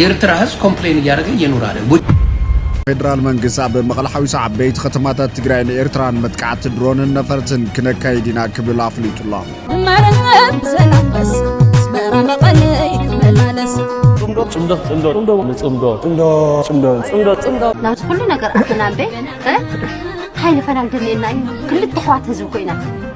የርትራ ህዝብ ኮምፕሌን እያረገ እየኑር ኣለ። ፌደራል መንግስት ኣብ መቐለ ሓዊሱ ዓበይቲ ከተማታት ትግራይን ኤርትራን መጥቃዕቲ ድሮንን ነፈርትን ክነካይድ ኢና ክብል ኣፍሊጡ ኣሎ።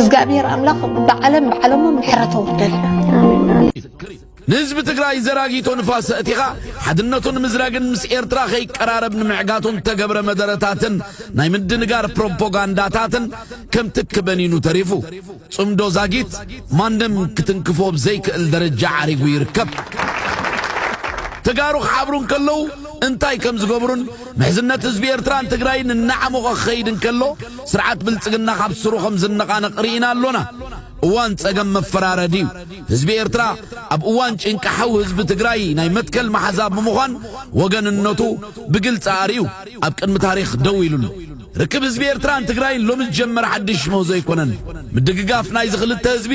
እዝጋኣብሄር ኣምላኽ ብዓለም ብዓለሞ ምሕረት ኣውርደል። ንህዝቢ ትግራይ ዘራጊቶ ንፋስ እቲኻ ሓድነቱን ምዝራግን ምስ ኤርትራ ከይቀራረብ ንምዕጋቱን ተገብረ መደረታትን ናይ ምድንጋር ፕሮፓጋንዳታትን ከምቲ ክበኒኑ ተሪፉ ጽምዶ ዛጊት ማንም ክትንክፎ ብዘይክእል ደረጃ ዓሪጉ ይርከብ። ተጋሩ ክሓብሩ እንከለዉ እንታይ ከም ዝገብሩን ምሕዝነት ህዝቢ ኤርትራን ትግራይን እናዓሞቐ ክኸይድ እንከሎ ስርዓት ብልጽግና ካብ ስሩ ከም ዝነቓነቕ ርኢና ኣሎና። እዋን ጸገም መፈራረዲ እዩ። ህዝቢ ኤርትራ ኣብ እዋን ጭንቂ ሓው ህዝቢ ትግራይ ናይ መትከል መሓዛ ብምዃን ወገንነቱ ብግልጺ ኣርእዩ ኣብ ቅድሚ ታሪኽ ደው ኢሉ ኣሎ። ርክብ ህዝቢ ኤርትራን ትግራይን ሎሚ ዝጀመረ ሓድሽ ምህዞ ኣይኮነን። ምድግጋፍ ናይዚ ክልተ ህዝቢ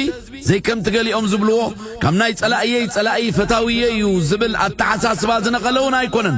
ዘይከምቲ ገሊኦም ዝብልዎ ካብ ናይ ጸላእየይ ጸላኢ ፈታውየይ እዩ ዝብል ኣተሓሳስባ ዝነቐለ እውን ኣይኮነን።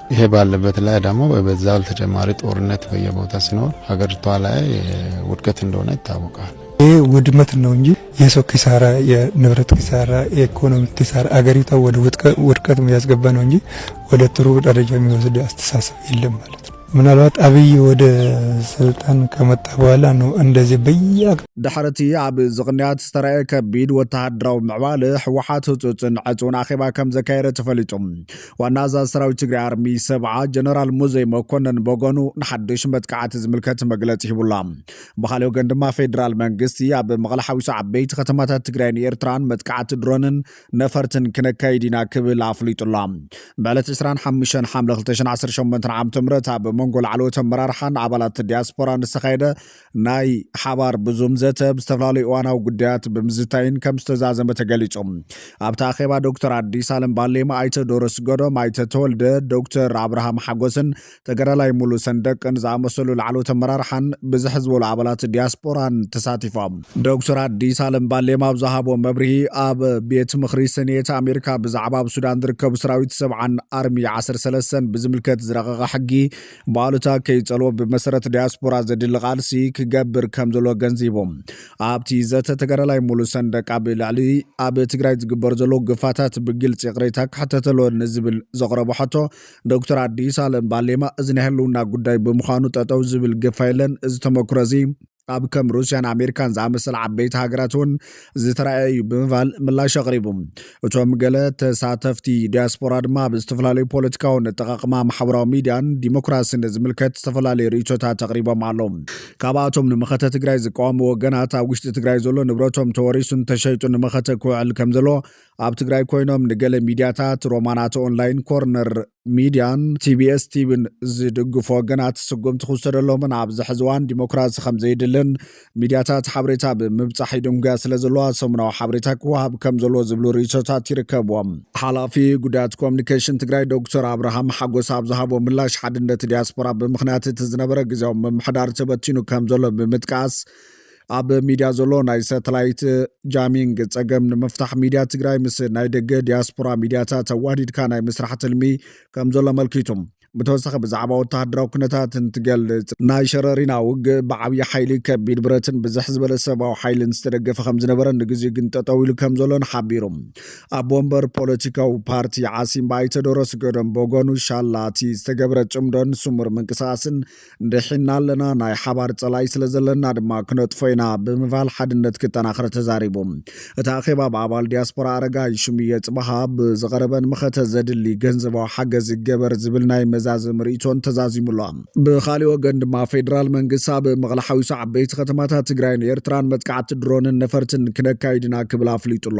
ይሄ ባለበት ላይ ደግሞ በበዛው ተጨማሪ ጦርነት በየቦታ ሲኖር ሀገሪቷ ላይ ውድቀት እንደሆነ ይታወቃል። ይህ ውድመት ነው እንጂ የሰው ኪሳራ፣ የንብረት ኪሳራ፣ የኢኮኖሚ ኪሳራ አገሪቷ ወደ ውድቀት ያስገባ ነው እንጂ ወደ ጥሩ ደረጃ የሚወስድ አስተሳሰብ የለም ማለት ነው። ምናልባት አብይ ወደ ስልጣን ከመጣ በኋላ ነው እንደዚህ በያ ድሕሪ እቲ ኣብ እዚ ቅንያት ዝተረኣየ ከቢድ ወተሃደራዊ ምዕባለ ህወሓት ህፁፅን ዕፅውን ኣኼባ ከም ዘካየደ ተፈሊጡ ዋና ኣዛዚ ሰራዊት ትግራይ ኣርሚ ሰብዓ ጀነራል ሙዘይ መኮነን በጎኑ ንሓድሽ መጥቃዕቲ ዝምልከት መግለፂ ሂቡላ ብካልእ ወገን ድማ ፌዴራል መንግስቲ ኣብ መቐለ ሓዊሱ ዓበይቲ ከተማታት ትግራይን ኤርትራን መጥቃዕቲ ድሮንን ነፈርትን ክነካይድ ኢና ክብል ኣፍሊጡላ ብዕለት 25 ሓምለ 2018 ዓ ም ኣብ መንጎ ላዕለዎት ኣመራርሓን ኣባላት ዲያስፖራን ዝተኻየደ ናይ ሓባር ብዙም ዘተ ብዝተፈላለዩ እዋናዊ ጉዳያት ብምዝታይን ከም ዝተዛዘመ ተገሊጹ። ኣብቲ ኣኼባ ዶክተር ኣዲስ ኣለም ባሌማ፣ ኣይተ ዶሮ ስገዶም፣ ኣይተ ተወልደ፣ ዶክተር ኣብርሃም ሓጎስን ተጋዳላይ ሙሉ ሰንደቅን ዝኣመሰሉ ላዕለዎት ኣመራርሓን ብዝሕ ዝበሉ ኣባላት ዲያስፖራን ተሳቲፎም። ዶክተር ኣዲስ ኣለም ባሌማ ኣብ ዝሃቦ መብርሂ፣ ኣብ ቤት ምኽሪ ሰኔት ኣሜሪካ ብዛዕባ ኣብ ሱዳን ዝርከቡ ሰራዊት ሰብዓን ኣርሚ ዓሰርተ ሰለስተን ብዝምልከት ዝረቐቐ ሕጊ ብኣሉታ ከይጸልዎ ብመሰረት ዲያስፖራ ዘድሊ ቃልሲ ክገብር ከም ዘሎ ገንዚቦም ኣብቲ ዘተ ተጋዳላይ ሙሉ ሰንደቅ ኣብ ልዕሊ ኣብ ትግራይ ዝግበር ዘሎ ግፋታት ብግልፂ ይቕሬታ ክሕተተሎ ንዝብል ዘቕረቦ ሕቶ ዶክተር ኣዲስ ኣለም ባሌማ እዚ ናይ ህልውና ጉዳይ ብምዃኑ ጠጠው ዝብል ግፋ የለን እዚ ተመክሮ እዚ ኣብ ከም ሩስያን ኣሜሪካን ዝኣመሰለ ዓበይቲ ሃገራት እውን ዝተረኣየ እዩ ብምባል ምላሽ ኣቕሪቡ። እቶም ገለ ተሳተፍቲ ዲያስፖራ ድማ ኣብ ዝተፈላለዩ ፖለቲካውን ኣጠቓቕማ ማሕበራዊ ሚዲያን ዲሞክራሲን ዝምልከት ዝተፈላለዩ ርእይቶታት ኣቕሪቦም ኣለዉ። ካብኣቶም ንመኸተ ትግራይ ዝቃወሙ ወገናት ኣብ ውሽጢ ትግራይ ዘሎ ንብረቶም ተወሪሱን ተሸይጡን ንመኸተ ክውዕል ከምዘለዎ ኣብ ትግራይ ኮይኖም ንገለ ሚድያታት ሮማናት ኦንላይን፣ ኮርነር ሚድያን ቲቢኤስ ቲቪን ዝድግፉ ወገናት ስጉምቲ ክውሰደሎምን ኣብዚ ሕዚ እዋን ዲሞክራሲ ከም ዘይድልን ሚድያታት ሓበሬታ ብምብፃሕ ይድንጉያ ስለ ዘለዋ ሰሙናዊ ሓበሬታ ክወሃብ ከም ዘለዎ ዝብሉ ርእይቶታት ይርከብዎም። ሓላፊ ጉዳያት ኮሚኒኬሽን ትግራይ ዶክተር ኣብርሃም ሓጎስ ኣብ ዝሃቦ ምላሽ ሓድነት ዲያስፖራ ብምኽንያት እቲ ዝነበረ ግዜያዊ ምምሕዳር ተበቲኑ ከም ዘሎ ብምጥቃስ ኣብ ሚድያ ዘሎ ናይ ሳተላይት ጃሚንግ ፀገም ንምፍታሕ ሚድያ ትግራይ ምስ ናይ ደገ ዲያስፖራ ሚድያታት ኣዋዲድካ ናይ ምስራሕ ትልሚ ከም ዘሎ ኣመልኪቱ። ብተወሳኺ ብዛዕባ ወተሃደራዊ ኩነታት እንትገልፅ ናይ ሸረሪና ውግእ ብዓብዪ ሓይሊ ከቢድ ብረትን ብዝሕ ዝበለ ሰብኣዊ ሓይልን ዝተደገፈ ከም ዝነበረን ንግዜኡ ግን ጠጠው ኢሉ ከም ዘሎን ሓቢሩ። ኣቦ ወንበር ፖለቲካዊ ፓርቲ ዓሲምባ ኣይተ ዶሮስ ገዶም ብወገኑ ሻላ እቲ ዝተገብረ ፅምዶን ስሙር ምንቅስቓስን ድሒና ኣለና፣ ናይ ሓባር ጸላኢ ስለዘለና ድማ ክነጥፎ ኢና ብምባል ሓድነት ክጠናኸር ተዛሪቡ። እቲ ኣኼባ ብ ኣባል ዲያስፖራ ኣረጋይ ሽሙየ ጽባሃ ብዝቐረበን መኸተ ዘድሊ ገንዘባዊ ሓገዝ ይገበር ዝብል ናይ መዛዘሚ ርእይቶን ተዛዚሙ ኣሎ። ብኻሊእ ወገን ድማ ፌደራል መንግስቲ ኣብ መቐለ ሓዊሱ ዓበይቲ ከተማታት ትግራይን ኤርትራን መጥቃዕቲ ድሮንን ነፈርትን ክነካይድ ኢና ክብል ኣፍሊጡ ኣሎ።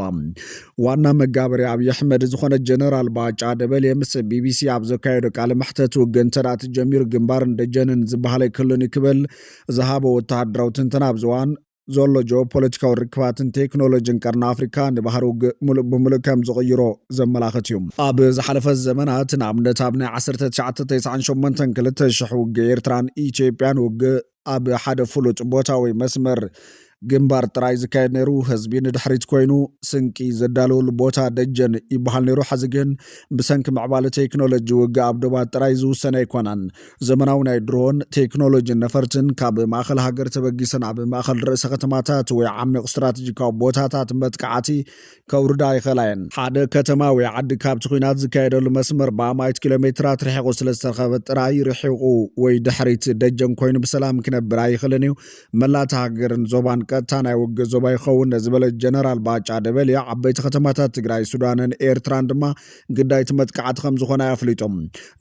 ዋና መጋበሪ ኣብዪ ኣሕመድ ዝኾነ ጀነራል ባጫ ደበሌ ምስ ቢቢሲ ኣብ ዘካየዶ ቃለ መሕተት ውግእ እንተ ተጀሚሩ ግንባርን ደጀንን ዝበሃል ኣይክሉን እዩ ክብል ዝሃቦ ወተሃደራዊ ትንተና ኣብዚ እዋን ዘሎ ጂኦፖለቲካዊ ርክባትን ቴክኖሎጂን ቀርኒ ኣፍሪካ ንባህሪ ውግእ ሙሉእ ብምሉእ ከም ዝቕይሮ ዘመላኽት እዩ ኣብ ዝሓለፈ ዘመናት ንኣብነት ኣብ ናይ 1998 2000 ውግእ ኤርትራን ኢትዮጵያን ውግእ ኣብ ሓደ ፍሉጥ ቦታ ወይ መስመር ግንባር ጥራይ ዝካየድ ነይሩ። ህዝቢ ንድሕሪት ኮይኑ ስንቂ ዘዳልወሉ ቦታ ደጀን ይበሃል ነይሩ። ሕዚ ግን ብሰንኪ ምዕባለ ቴክኖሎጂ ውግእ ኣብ ዶባት ጥራይ ዝውሰን ኣይኮነን። ዘመናዊ ናይ ድሮን ቴክኖሎጂን ነፈርትን ካብ ማእኸል ሃገር ተበጊሰን ኣብ ማእኸል ርእሰ ከተማታት ወይ ዓሚቕ ስትራቴጂካዊ ቦታታት መጥቃዕቲ ከውርዳ ይኽእላ እየን። ሓደ ከተማ ወይ ዓዲ ካብቲ ኲናት ዝካየደሉ መስመር ብኣማኢት ኪሎ ሜትራት ርሒቑ ስለ ዝተረኸበ ጥራይ ርሒቑ ወይ ድሕሪት ደጀን ኮይኑ ብሰላም ክነብር ኣይኽእልን እዩ። መላእ እታ ሃገርን ዞባን ቀጥታ ናይ ውግእ ዞባ ይኸውን ዝበለ ጀነራል ባጫ ደበሌ፣ ዓበይቲ ከተማታት ትግራይ፣ ሱዳንን ኤርትራን ድማ ግዳይ እቲ መጥቃዕቲ ከም ዝኾና እዩ ኣፍሊጡ።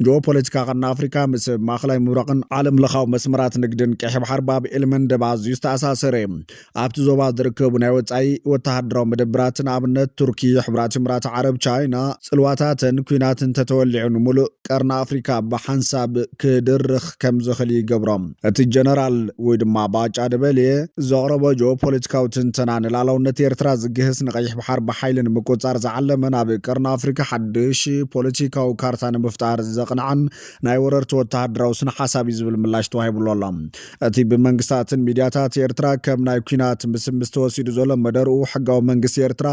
ጂኦፖለቲካ ቀርኒ ኣፍሪካ ምስ ማእኸላይ ምብራቕን ዓለምለኻዊ መስመራት ንግድን ቀይሕ ባሕሪ ብኣብ ኤልመንደብ ኣዝዩ ዝተኣሳሰረ እዩ። ኣብቲ ዞባ ዝርከቡ ናይ ወጻኢ ወተሃደራዊ መደብራት ንኣብነት ቱርኪ፣ ሕቡራት ኢምራት ዓረብ፣ ቻይና ጽልዋታተን ኲናት እንተተወሊዑ ንምሉእ ቀርኒ ኣፍሪካ ብሓንሳብ ክድርኽ ከምዝኽል ይገብሮ። እቲ ጀነራል ወይ ድማ ባጫ ደበሌ ዘቕረቦ ጂኦፖለቲካዊ ትንተና ንላእላውነት ኤርትራ ዝግህስ ንቀይሕ ባሕር ብሓይሊ ንምቁጽጻር ዝዓለመን ኣብ ቀርኒ ኣፍሪካ ሓድሽ ፖለቲካዊ ካርታ ንምፍጣር ዘቕንዐን ናይ ወረርቲ ወተሃደራዊ ስነ-ሓሳብ እዩ ዝብል ምላሽ ተዋሂብሉ ኣሎ። እቲ ብመንግስታትን ሚድያታት ኤርትራ ከም ናይ ኩናት ምስምስ ተወሲዱ ዘሎ መደርኡ ሕጋዊ መንግስቲ ኤርትራ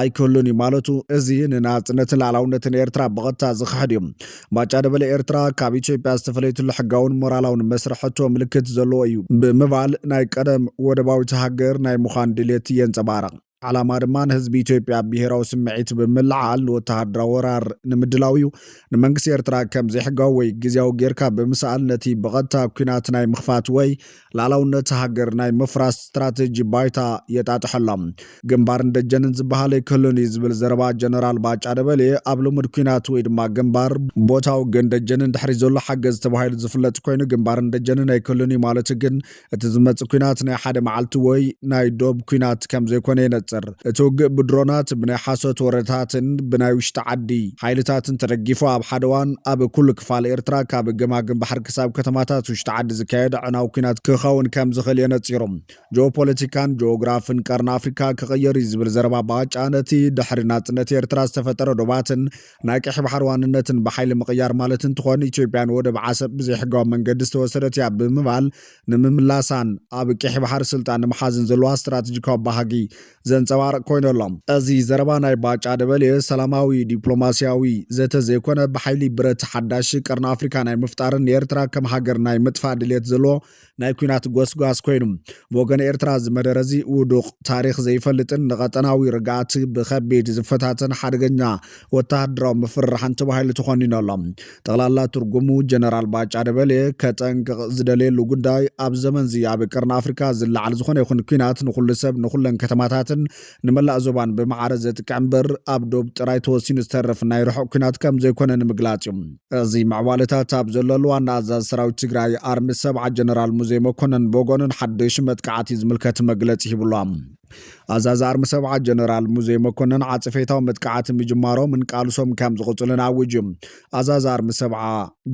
ኣይክህሉን እዩ ማለቱ እዚ ንናጽነትን ልኣላውነትን ኤርትራ ብቐጥታ ዝኽሕድ እዩ። ባጫ ደበሌ ኤርትራ ካብ ኢትዮጵያ ዝተፈለየትሉ ሕጋውን ሞራላውን መስርሕ ሕቶ ምልክት ዘለዎ እዩ ብምባል ናይ ቀደም ወደባዊት ሃገር ናይ ምዃን ድሌት የንጸባርቕ። ዓላማ ድማ ንህዝቢ ኢትዮጵያ ብሄራዊ ስምዒት ብምልዓል ንወተሃደራዊ ወራር ንምድላው እዩ። ንመንግስቲ ኤርትራ ከም ዘይሕጋዊ ወይ ግዝያዊ ጌርካ ብምስኣል ነቲ ብቐጥታ ኲናት ናይ ምኽፋት ወይ ልኣላውነት ሃገር ናይ ምፍራስ ስትራተጂ ባይታ የጣጥሖ ኣሎ። ግንባርን ደጀንን ዝበሃል ኣይክህሉን እዩ ዝብል ዘረባ ጀነራል ባጫ ደበሌ ኣብ ልሙድ ኲናት ወይ ድማ ግንባር፣ ቦታዊ ግን ደጀንን ድሕሪት ዘሎ ሓገዝ ተባሂሉ ዝፍለጥ ኮይኑ ግንባርን ደጀንን ኣይክህሉን እዩ ማለቱ ግን እቲ ዝመጽእ ኩናት ናይ ሓደ መዓልቲ ወይ ናይ ዶብ ኩናት ከም ዘይኮነ የነጽር። እቲ ውግእ ብድሮናት፣ ብናይ ሓሶት ወረታትን ብናይ ውሽጢ ዓዲ ሓይልታትን ተደጊፉ ኣብ ሓደ እዋን ኣብ ኩሉ ክፋል ኤርትራ ካብ ገማግም ባሕሪ ክሳብ ከተማታት ውሽጢ ዓዲ ዝካየድ ኣዕናዊ ኩናት ክኸውን ከም ዝኽእል የነጺሩ። ጂኦፖለቲካን ጂኦግራፍን ቀርኒ ኣፍሪካ ክቕየር እዩ ዝብል ዘረባ ባጫ ነቲ ድሕሪ ናጽነት ኤርትራ ዝተፈጠረ ዶባትን ናይ ቀይሕ ባሕሪ ዋንነትን ብሓይሊ ምቕያር ማለት እንትኾን ኢትዮጵያ ንወደብ ዓሰብ ብዘይሕጋዊ መንገዲ ዝተወሰደት እያ ብምባል ንምምላሳን ኣብ ቀይሕ ባሕሪ ስልጣን ንምሓዝን ዘለዋ ስትራቴጂካዊ ባህጊ ዘንፀባርቕ ኮይኑ ኣሎ። እዚ ዘረባ ናይ ባጫ ደበሌ ሰላማዊ ዲፕሎማሲያዊ ዘተ ዘይኮነ ብሓይሊ ብረት ሓዳሽ ቀርኒ ኣፍሪካ ናይ ምፍጣርን ንኤርትራ ከም ሃገር ናይ ምጥፋእ ድሌት ዘለዎ ናይ ኩናት ጎስጓስ ኮይኑ ብወገን ኤርትራ እዚ መደረ እዚ ውዱቕ ታሪኽ ዘይፈልጥን ንቐጠናዊ ርግኣት ብኸቢድ ዝፈታተን ሓደገኛ ወተሃደራዊ ምፍርራሕን ተባሂሉ ተኾኒኑ ኣሎ። ጠቕላላ ትርጉሙ ጀነራል ባጫ ደበሌ ከጠንቅቕ ዝደለየሉ ጉዳይ ኣብ ዘመንዚ ኣብ ቀርኒ ኣፍሪካ ዝለዓል ዝኾነ ይኹን ኲናት ንኹሉ ሰብ ንኹለን ከተማታትን ንመላእ ዞባን ብማዕረ ዘጥቅዕ እምበር ኣብ ዶብ ጥራይ ተወሲኑ ዝተርፍ ናይ ርሑቕ ኲናት ከም ዘይኮነ ንምግላጽ እዩ። እዚ ምዕባለታት ኣብ ዘለሉ ዋና ኣዛዚ ሰራዊት ትግራይ ኣርሚ ሰብዓ ጀነራል ሙዜ መኮነን ብወገኑ ንሓደሹ መጥቃዕቲ ዝምልከት መግለጺ ሂብሉ። ኣዛዚ ኣርሚ ሰብዓ ጀነራል ሙዜ መኮነን ዓጽፌታዊ መጥቃዕቲ ምጅማሮምን ቃልሶም ከም ዝቕጽሉን ኣዊጁ። ኣዛዚ ኣርሚ ሰብዓ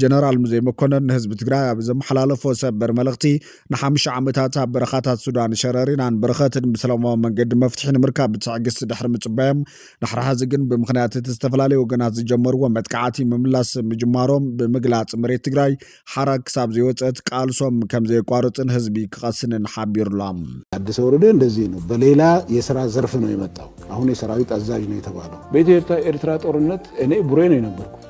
ጀነራል ሙዜ መኮነን ንህዝቢ ትግራይ ኣብ ዘመሓላለፎ ሰበር መልእኽቲ ንሓምሻ ዓመታት ኣብ በረኻታት ሱዳን ሸረሪናን በረኸትን ብሰላማዊ መንገዲ መፍትሒ ንምርካብ ብትዕግስቲ ድሕሪ ምጽባዮም ድሕሪ ሐዚ ግን ብምኽንያት እቲ ዝተፈላለዩ ወገናት ዝጀመርዎ መጥቃዕቲ ምምላስ ምጅማሮም ብምግላጽ መሬት ትግራይ ሓራ ክሳብ ዘይወፀት ቃልሶም ከም ዘየቋርፅን ህዝቢ ክቐስንን ሓቢሩሎም። ታደሰ ወረደ እንደዚህ ነው በሌላ የስራ ዘርፍ ነው የመጣው አሁን የሰራዊት አዛዥ ነው የተባለው። በኢትዮ ኤርትራ ጦርነት እኔ ቡሬ ነው የነበርኩት።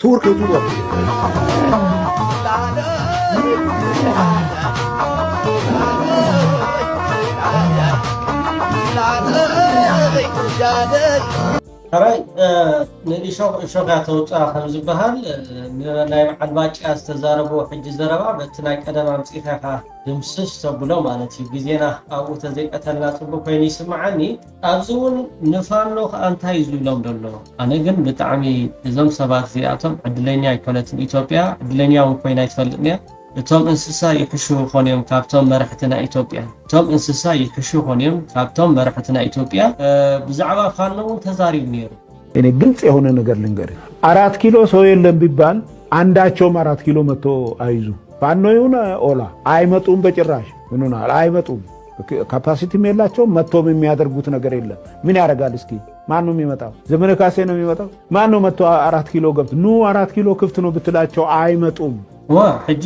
ቱርክ ቱርክ ሕራይ ንእሾኽ እሾኽ እያ ተውፅኣ ከም ዝበሃል ናይ በዓል ባጫ ዝተዛረብዎ ሕጂ ዘረባ በቲ ናይ ቀደም ኣምፂእኻ ኢኻ ድምስስ ተብሎ ማለት እዩ ግዜና ኣብኡ ተዘይቀተልና ፅቡቅ ኮይኑ ይስምዓኒ ኣብዚ ውን ንፋኖ ከኣ እንታይ እዩ ዝብሎም ደሎ ኣነ ግን ብጣዕሚ እዞም ሰባት እዚኣቶም ዕድለኛ ኣይኮነትን ኢትዮጵያ ዕድለኛ ውን ኮይና ኣይትፈልጥን እያ እቶም እንስሳ ይሕሹ ይኾኑ እዮም ካብቶም መራሕቲ ናይ ኢትዮጵያ እቶም እንስሳ ይሕሹ ይኾኑ እዮም ካብቶም መራሕቲ ናይ ኢትዮጵያ ብዛዕባ ፋኖ ውን ተዛሪቡ ነይሩ። እኔ ግልጽ የሆነ ነገር ልንገርህ፣ አራት ኪሎ ሰው የለም ቢባል አንዳቸውም አራት ኪሎ መጥቶ አይዙ ፋኖ ይሁን ኦላ አይመጡም፣ በጭራሽ ምኑናል አይመጡም። ካፓሲቲም የላቸውም። መጥቶም የሚያደርጉት ነገር የለም። ምን ያደርጋል? እስኪ ማን ነው የሚመጣው? ዘመነ ካሴ ነው የሚመጣው? ማን ነው መጥቶ አራት ኪሎ ገብት ኑ አራት ኪሎ ክፍት ነው ብትላቸው አይመጡም። ዋ ሕጂ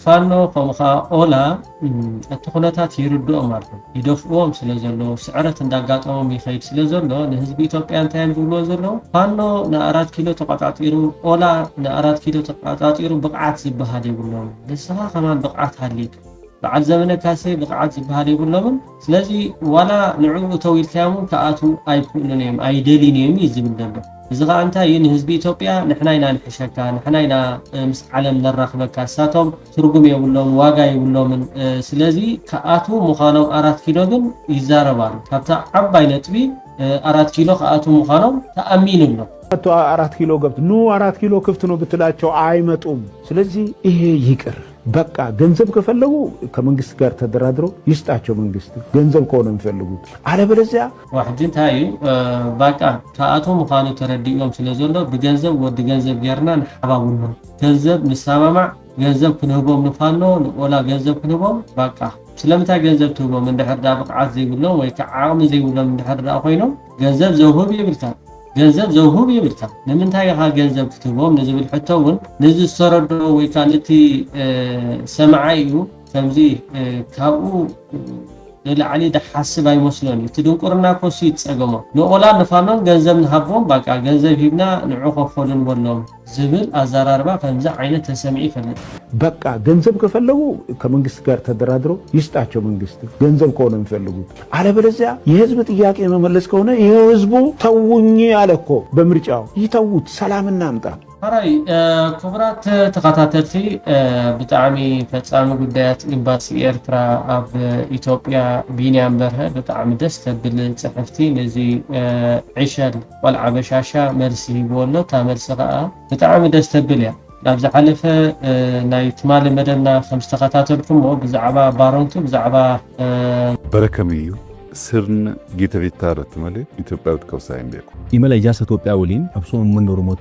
ፋኖ ከምኡ ከዓ ኦላ እቲ ኩነታት ይርድኦም ኣሎ ይደፍእዎም ስለ ዘለዉ ስዕረት እንዳጋጠሞም ይኸይድ ስለ ዘሎ ንህዝቢ ኢትዮጵያ እንታይ እዮም ዝብልዎ ዘለዉ ፋኖ ንኣራት ኪሎ ተቆፃፂሩ ኦላ ንኣራት ኪሎ ተቆፃፂሩ ብቕዓት ዝበሃል የብሎም ንስኻ ከማን ብቕዓት ሃልዩካ በዓል ዘበነ ካሴ ብቕዓት ዝብሃል የብሎምን ስለዚ ዋላ ንዕኡ እተው ኢልካዮም ውን ክኣትዉ ኣይክእሉን እዮም ኣይደልዩን እዮም እዩ ዝብል ዘሎ እዚ ከኣ እንታይ እዩ ንህዝቢ ኢትዮጵያ ንሕና ኢና ንሕሸካ ንሕና ኢና ምስ ዓለም ነራኽበካ እሳቶም ትርጉም የብሎምን ዋጋ የብሎምን ስለዚ ክኣትዉ ምዃኖም ኣራት ኪሎ ግን ይዛረብ ኣሎ ካብታ ዓባይ ነጥቢ ኣራት ኪሎ ክኣትዉ ምዃኖም ተኣሚኑ ኣሎ መጥቶ አራት ኪሎ ገብት ኑ አራት ኪሎ ክፍት ነው ብትላቸው አይመጡም። ስለዚህ ይሄ ይቅር በቃ ገንዘብ ከፈለጉ ከመንግስት ጋር ተደራድሮ ይስጣቸው መንግስት ገንዘብ ከሆነ የሚፈልጉት አለበለዚያ ዋሕጂ ታይ እዩ ባቃ ካኣቶ ምካኑ ተረዲእዎም ስለ ዘሎ ብገንዘብ ወዲ ገንዘብ ገርና ንሓባብሎም ገንዘብ ንሳማማዕ ገንዘብ ክንህቦም ንፋኖ ንኦላ ገንዘብ ክንህቦም ባቃ ስለምንታይ ገንዘብ ትህቦም እንድሕር ድኣ ብቅዓት ዘይብሎም ወይ ክዓ ዓቅሚ ዘይብሎም እንድሕር ድኣ ኮይኖም ገንዘብ ዘውህብ የብልካን ገንዘብ ዘውህብ የብልካ ንምንታይ ኢኻ ገንዘብ ክትህቦም ንዝብል ሕቶ እውን ነዚ ዝተረድኦ ወይ ከዓ ነቲ ሰማዓይ እዩ ከምዚ ካብኡ ንላዕሊ ዝሓስብ ኣይመስሎን እዩ እቲ ድንቁርና ኮሱ ይፀገሞ ንኦላን ንፋኖን ገንዘብ ንሃቦም ባቃ ገንዘብ ሂብና ንዑ ከፈሉ ንበሎም ዝብል ኣዛራርባ ከምዚ ዓይነት ተሰሚዑ ይፈልጥ። በቃ ገንዘብ ከፈለጉ ከመንግስት ጋር ተደራድረው ይስጣቸው መንግስት ገንዘብ ከሆነ ሚፈልጉት አለበለዚያ የህዝብ ጥያቄ የመመለስ ከሆነ ይኸው ህዝቡ ተውኝ አለ እኮ በምርጫው ይተዉት ሰላም እናምጣ። ሐራይ ክቡራት ተኸታተልቲ ብጣዕሚ ፈጻሚ ጉዳያት ኢምባሲ ኤርትራ ኣብ ኢትዮጵያ ቢንያም በርሀ ብጣዕሚ ደስ ተብል ጽሕፍቲ ነዚ ዕሸል ቆልዓ በሻሻ መልሲ ሂብዎ ኣሎ እታ መልሲ ከኣ ብጣዕሚ ደስ ተብል እያ ኣብ ዝሓለፈ ናይ ትማሊ መደብና ከም ዝተኸታተልኩሞ ብዛዕባ ባረንቱ ብዛዕባ በረከም እዩ ስርን ጊተ ቪታረ ትመሌ ኢትዮጵያዊት ከውሳይ እንዴኩ። ኢመለይ ጃሰ ቶጵያ ወሊን ኣብ ሶም መንዶርሞት።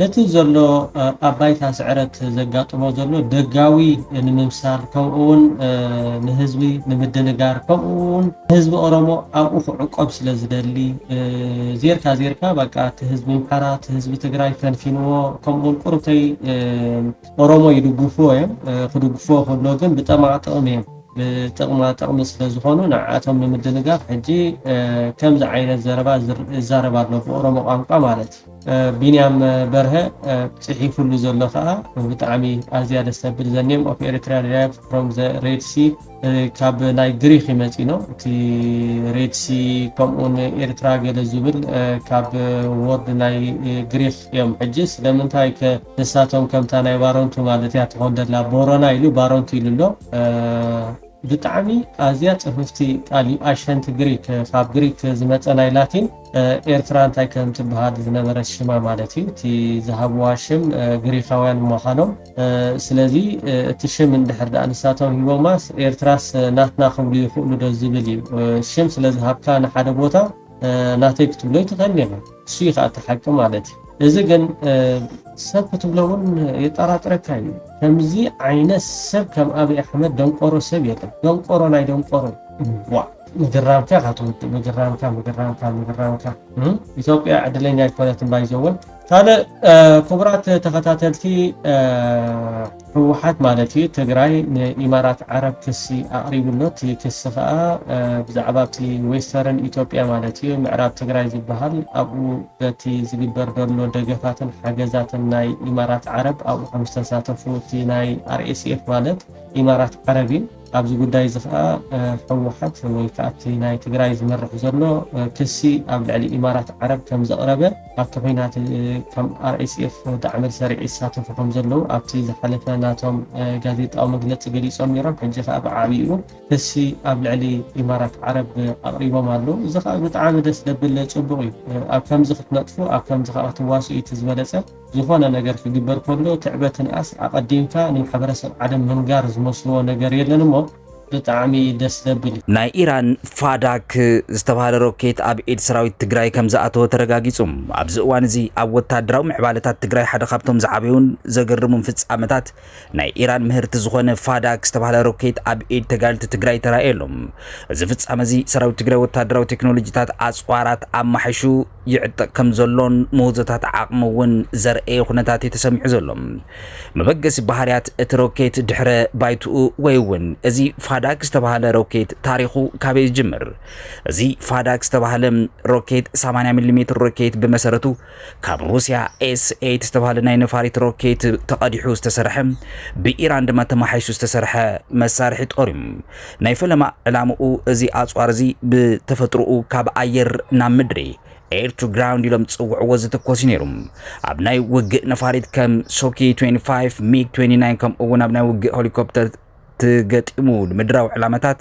ነቲ ዘሎ ኣብ ባይታ ስዕረት ዘጋጥሞ ዘሎ ደጋዊ ንምምሳል ከምኡውን ንህዝቢ ንምድንጋር ከምኡውን ህዝቢ ኦሮሞ ኣብኡ ክዕቆብ ስለ ዝደሊ ዜርካ ዜርካ በቃ እቲ ህዝቢ ኣምሓራ እቲ ህዝቢ ትግራይ ፈንፊንዎ ከምኡውን ቁሩብተይ ኦሮሞ ይድግፍዎ እዮም ክድግፍዎ ከሎ ግን ብጠማዕ ጥቕሚ እዮም ብጥቕማ ጥቕሚ ስለ ዝኾኑ ንዓኣቶም ንምድንጋር ሕጂ ከምዚ ዓይነት ዘረባ ይዛረብ ኣሎ ብኦሮሞ ቋንቋ ማለት ቢንያም በርሀ ጺሒፉሉ ዘሎ ከኣ ብጣዕሚ ኣዝያ ደስ ተብል the name of Eritrea derived from the Red Sea ካብ ናይ ግሪኽ እዩ መጺኖ እቲ ሬድ ሲ ከምኡውን ኤርትራ ገለ ዝብል ካብ ወርድ ናይ ግሪኽ እዮም ሕጂ ስለምንታይ ከ ንሳቶም ከምታ ናይ ባረንቱ ማለት እያ ትኾን ደላ ቦረና ኢሉ ባረንቱ ኢሉ ኣሎ ብጣዕሚ ኣዝያ ጽፍፍቲ ቃል እዩ ኣሸንቲ ግሪክ ካብ ግሪክ ዝመጸ ናይ ላቲን ኤርትራ እንታይ ከም ትብሃል ዝነበረት ሽማ ማለት እዩ እቲ ዝሃብዋ ሽም ግሪኻውያን ምዃኖም ስለዚ እቲ ሽም እንድሕር ድኣ ንሳቶም ሂቦማስ ኤርትራስ ናትና ክብሉ ይኽእሉ ዶ ዝብል እዩ ሽም ስለ ዝሃብካ ንሓደ ቦታ ናተይ ክትብሎ ኣይትኽእልን ኢኻ እሱ እዩ ኸኣ እቲ ሓቂ ማለት እዩ እዚ ግን ሰብ ክትብሎ እውን የጣራጥረካ እዩ ከምዚ ዓይነት ሰብ ከም ኣብይ ኣሕመድ ደንቆሮ ሰብ የለን ደንቆሮ ናይ ደንቆሮ ዋእ። ምግራምካ ኢካ ትውድእ ምግራምካ ምግራምካ ምግራምካ ኢትዮጵያ ዕድለኛ ኣይኮነትን ባይዘወ ካልእ ክቡራት ተኸታተልቲ ህወሓት ማለት እዩ ትግራይ ንኢማራት ዓረብ ክሲ ኣቕሪብሎ እቲ ክሲ ከዓ ብዛዕባ እቲ ዌስተርን ኢትዮጵያ ማለት እዩ ምዕራብ ትግራይ ዝበሃል ኣብኡ በቲ ዝግበር ዘሎ ደገፋትን ሓገዛትን ናይ ኢማራት ዓረብ ኣብኡ ከም ዝተሳተፉ እቲ ናይ ኣርኤስኤፍ ማለት ኢማራት ዓረብ እዩ ኣብዚ ጉዳይ እዚ ከኣ ህወሓት ወይ ከኣ እቲ ናይ ትግራይ ዝመርሕ ዘሎ ክሲ ኣብ ልዕሊ ኢማራት ዓረብ ከም ዘቕረበ ኣብቲ ኹናት ከም RSF ዳዕመል ሰሪዕ ይሳተፉ ከም ዘለዉ ኣብቲ ዝሓለፈ ናቶም ጋዜጣዊ መግለጺ ገሊጾም ኔሮም ሕጂ ከኣ ብዓቢኡ ክሲ ኣብ ልዕሊ ኢማራት ዓረብ ኣቕሪቦም ኣለዉ እዚ ከኣ ብጣዕሚ ደስ ደብል ጽቡቕ እዩ ኣብ ከምዚ ክትነጥፉ ኣብ ከምዚ ከኣ ክትዋስኡ እዩ እቲ ዝበለጸ ዝኾነ ነገር ክግበር ከሎ ትዕበ ትንኣስ ኣቀዲምካ ንማሕበረሰብ ዓለም ምንጋር ዝመስልዎ ነገር የለን እሞ ብጣዕሚ ደስ ዘብል። ናይ ኢራን ፋዳክ ዝተብሃለ ሮኬት ኣብ ኢድ ሰራዊት ትግራይ ከምዝኣተወ ተረጋጊፁ። ኣብዚ እዋን እዚ ኣብ ወታደራዊ ምዕባለታት ትግራይ ሓደ ካብቶም ዝዓበዩን ዘገርሙን ፍፃመታት ናይ ኢራን ምህርቲ ዝኾነ ፋዳክ ዝተባህለ ሮኬት ኣብ ኢድ ተጋልቲ ትግራይ ተራእየ ኣሎ። እዚ ፍጻመ እዚ ሰራዊት ትግራይ ወታደራዊ ቴክኖሎጂታት ኣጽዋራት ኣማሒሹ ይዕጠቕ ከምዘሎን ምህዞታት ዓቕሚ እውን ዘርኣየ ኩነታት እዩ ተሰሚዑ ዘሎ። መበገሲ ባህርያት እቲ ሮኬት ድሕረ ባይትኡ ወይ እውን እዚ ፋዳክ ዝተባህለ ሮኬት ታሪኹ ካበይ ዝጅምር? እዚ ፋዳክ ዝተባህለ ሮኬት 80 ሚሊ ሜትር ሮኬት ብመሰረቱ ካብ ሩስያ ኤስ ኤይት ዝተባህለ ናይ ነፋሪት ሮኬት ተቐዲሑ ዝተሰርሐ ብኢራን ድማ ተመሓይሹ ዝተሰርሐ መሳርሒ ጦር እዩ። ናይ ፈለማ ዕላምኡ እዚ ኣጽዋር እዚ ብተፈጥሮኡ ካብ ኣየር ናብ ምድሪ፣ Air to Ground፣ ኢሎም ዝጽውዕዎ ዝትኮስ እዩ ነይሩ። ኣብ ናይ ውግእ ነፋሪት ከም ሶኪ ትዌንቲ ፋይቭ፣ ሚግ ትዌንቲ ናይን ከምኡ'ውን ኣብ ናይ ውግእ ሄሊኮፕተር ተገጢሙ ንምድራዊ ዕላማታት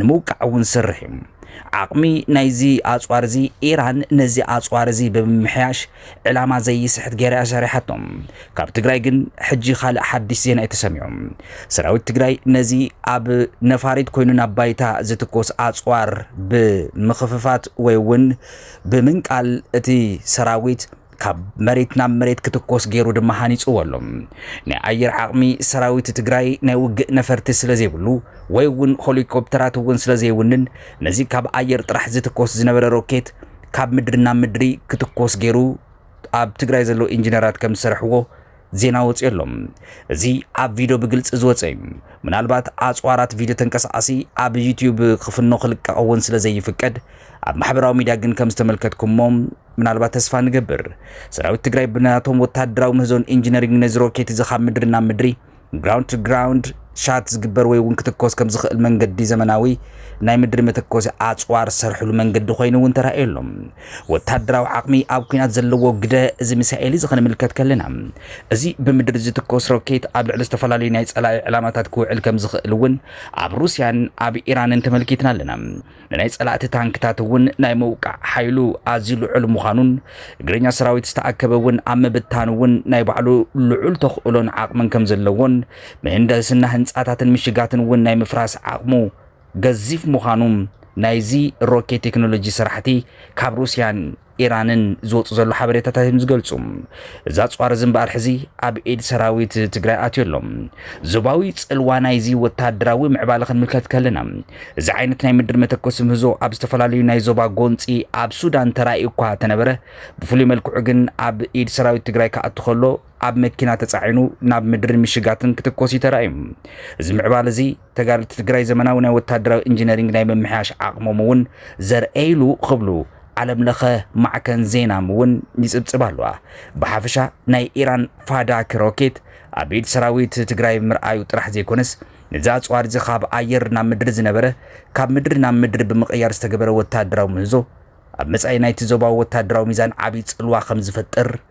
ንምውቃዕ እውን ዝሰርሕ እዩ። ዓቕሚ ናይዚ ኣጽዋር እዚ ኢራን ነዚ ኣጽዋር እዚ ብምምሕያሽ ዕላማ ዘይስሕት ገይራ እያ ሰሪሓቶ። ካብ ትግራይ ግን ሕጂ ካልእ ሓድሽ ዜና እዩ ተሰሚዑ። ሰራዊት ትግራይ ነዚ ኣብ ነፋሪት ኮይኑ ናብ ባይታ ዝትኮስ ኣጽዋር ብምኽፍፋት ወይ እውን ብምንቃል እቲ ሰራዊት ካብ መሬት ናብ መሬት ክትኮስ ገይሩ ድማ ሃኒጽዎ ኣሎ። ናይ ኣየር ዓቕሚ ሰራዊት ትግራይ ናይ ውግእ ነፈርቲ ስለ ዘይብሉ ወይ እውን ሆሊኮፕተራት እውን ስለ ዘይውንን ነዚ ካብ ኣየር ጥራሕ ዝትኮስ ዝነበረ ሮኬት ካብ ምድሪ ናብ ምድሪ ክትኮስ ገይሩ ኣብ ትግራይ ዘለዉ ኢንጂነራት ከም ዝሰርሕዎ ዜና ወፂኡ ኣሎ። እዚ ኣብ ቪድዮ ብግልፂ ዝወፀ እዩ። ምናልባት ኣፅዋራት ቪድዮ ተንቀሳቓሲ ኣብ ዩትዩብ ክፍኖ ክልቀቕ እውን ስለ ዘይፍቀድ ኣብ ማሕበራዊ ሚድያ ግን ከም ዝተመልከትኩሞ ምናልባት ተስፋ ንገብር ሰራዊት ትግራይ ብናቶም ወታደራዊ ምህዞን ኢንጂነሪንግ ነዚ ሮኬት እዚ ካብ ምድሪ ናብ ምድሪ ግራውንድ ቱ ግራውንድ ሻት ዝግበር ወይ እውን ክትኮስ ከም ዝኽእል መንገዲ ዘመናዊ ናይ ምድሪ መተኮሲ ኣፅዋር ዝሰርሕሉ መንገዲ ኮይኑ እውን ተራእዩ ኣሎ። ወተሃደራዊ ዓቕሚ ኣብ ኲናት ዘለዎ ግደ እዚ ሚሳኤል እዚ ክንምልከት ከለና፣ እዚ ብምድሪ ዝትኮስ ሮኬት ኣብ ልዕሊ ዝተፈላለዩ ናይ ጸላኢ ዕላማታት ክውዕል ከም ዝኽእል እውን ኣብ ሩስያን ኣብ ኢራንን ተመልኪትና ኣለና። ንናይ ጸላእቲ ታንክታት እውን ናይ ምውቃዕ ሓይሉ ኣዝዩ ልዑል ምዃኑን እግረኛ ሰራዊት ዝተኣከበ እውን ኣብ ምብታን እውን ናይ ባዕሉ ልዑል ተኽእሎን ዓቕምን ከም ዘለዎን ምህንደስና ህንጻታትን ምሽጋትን እውን ናይ ምፍራስ ዓቕሙ ገዚፍ ምዃኑ ናይዚ ሮኬት ቴክኖሎጂ ስራሕቲ ካብ ሩስያን ኢራንን ዝወፁ ዘሎ ሓበሬታታት እዮም ዝገልፁ። እዚ ኣፅዋር እዚ እምበኣር ሕዚ ኣብ ኢድ ሰራዊት ትግራይ ኣትዩ ኣሎ። ዞባዊ ፅልዋ ናይዚ ወታደራዊ ምዕባለ ክንምልከት ከለና እዚ ዓይነት ናይ ምድሪ መተኮሲ ምህዞ ኣብ ዝተፈላለዩ ናይ ዞባ ጎንፂ ኣብ ሱዳን ተራእዩ እኳ ተነበረ ብፍሉይ መልክዑ ግን ኣብ ኢድ ሰራዊት ትግራይ ክኣቱ ከሎ ኣብ መኪና ተፃዒኑ ናብ ምድሪ ምሽጋትን ክትኮስ እዩ ተራእዩ። እዚ ምዕባለ እዚ ተጋደልቲ ትግራይ ዘመናዊ ናይ ወታደራዊ ኢንጂነሪንግ ናይ ምምሕያሽ ዓቕሞም እውን ዘርእይሉ ክብሉ ዓለም ለኸ ማዕከን ዜናም እውን ይጽብጽብ ኣለዋ። ብሓፈሻ ናይ ኢራን ፋዳክ ሮኬት ኣብ ኢድ ሰራዊት ትግራይ ምርኣዩ ጥራሕ ዘይኮነስ ነዚ ኣጽዋር እዚ ካብ ኣየር ናብ ምድሪ ዝነበረ ካብ ምድሪ ናብ ምድሪ ብምቕያር ዝተገበረ ወታደራዊ ምህዞ ኣብ መጻኢ ናይቲ ዞባዊ ወታደራዊ ሚዛን ዓብዪ ጽልዋ ከም ዝፈጥር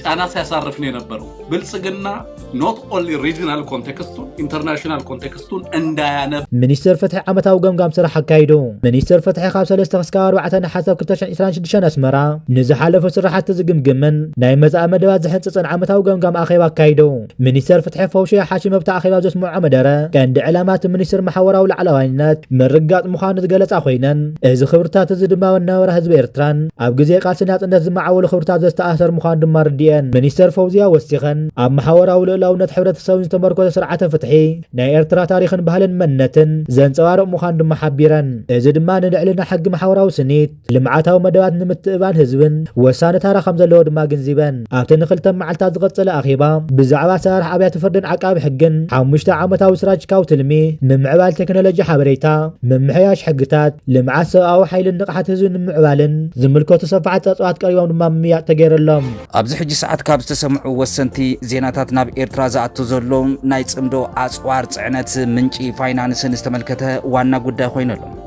ጫና ሲያሳርፍ ነው የነበረው። ብልጽግና ኖት ኦንሊ ሪጂናል ኮንቴክስቱን ኢንተርናሽናል ኮንቴክስቱን እንዳያነብ ሚኒስቴር ፍትሒ ዓመታዊ ገምጋም ስራሕ ኣካይዱ። ሚኒስቴር ፍትሒ ካብ 3 ክሳብ 4 ነሓሰ 2026 ኣስመራ ንዝሓለፉ ስራሕቲ ዝግምግምን ናይ መጻኢ መደባት ዝሕንጽጽን ዓመታዊ ገምጋም ኣኼባ ኣካይዱ። ሚኒስተር ፍትሒ ፈውሽያ ሓሽም ኣብቲ ኣኼባ ዘስመዖ መደረ፣ ቀንዲ ዕላማ እቲ ሚኒስትር ማሕወራዊ ላዕላዋይነት ምርግጋጽ ምዃኑ ዝገለጻ ኮይነን፣ እዚ ክብርታት እዚ ድማ መነባብራ ህዝቢ ኤርትራን ኣብ ግዜ ቃልሲ ናጽነት ዝመዓወሉ ክብርታት ዘስተኣሳሰር ምዃኑ ድማ ኣርዲኤን። ሚኒስተር ፈውዝያ ወሲኸን፣ ኣብ ማሕወራዊ ልኡላውነት ሕብረተሰብን ዝተመርኮሰ ስርዓተ ፍትሒ፣ ናይ ኤርትራ ታሪኽን ባህልን መንነትን ዘንጸባርቕ ምዃኑ ድማ ሓቢረን። እዚ ድማ ንልዕልና ሕጊ ማሕወራዊ ስኒት፣ ልምዓታዊ መደባት ንምትእብባን ህዝብን ወሳኒ ታራ ከምዘለዎ ድማ ኣግንዚበን። ኣብቲ ንክልተ መዓልታት ዝቐፀለ ኣኼባ ብዛዕባ ኣሰራርሓ ኣብያተ ፍርድን ዓቃቢ ሕግን ሓሙሽተ ዓመታዊ ስትራጂካዊ ትልሚ፣ ምምዕባል ቴክኖሎጂ ሓበሬታ፣ ምምሕያሽ ሕግታት፣ ልምዓት ሰብኣዊ ሓይልን ንቕሓት ህዝቢ ንምምዕባልን ዝምልከቱ ሰፋሕቲ ፀብፃባት ቀሪቦም ድማ ምምይያጥ ተገይረሎም። ኣብዚ ሕጂ ሰዓት ካብ ዝተሰምዑ ወሰንቲ ዜናታት ናብ ኤርትራ ዝኣቱ ዘሎ ናይ ጽምዶ ኣጽዋር ጽዕነት ምንጪ ፋይናንስን ዝተመልከተ ዋና ጉዳይ ኮይኑ ኣሎ።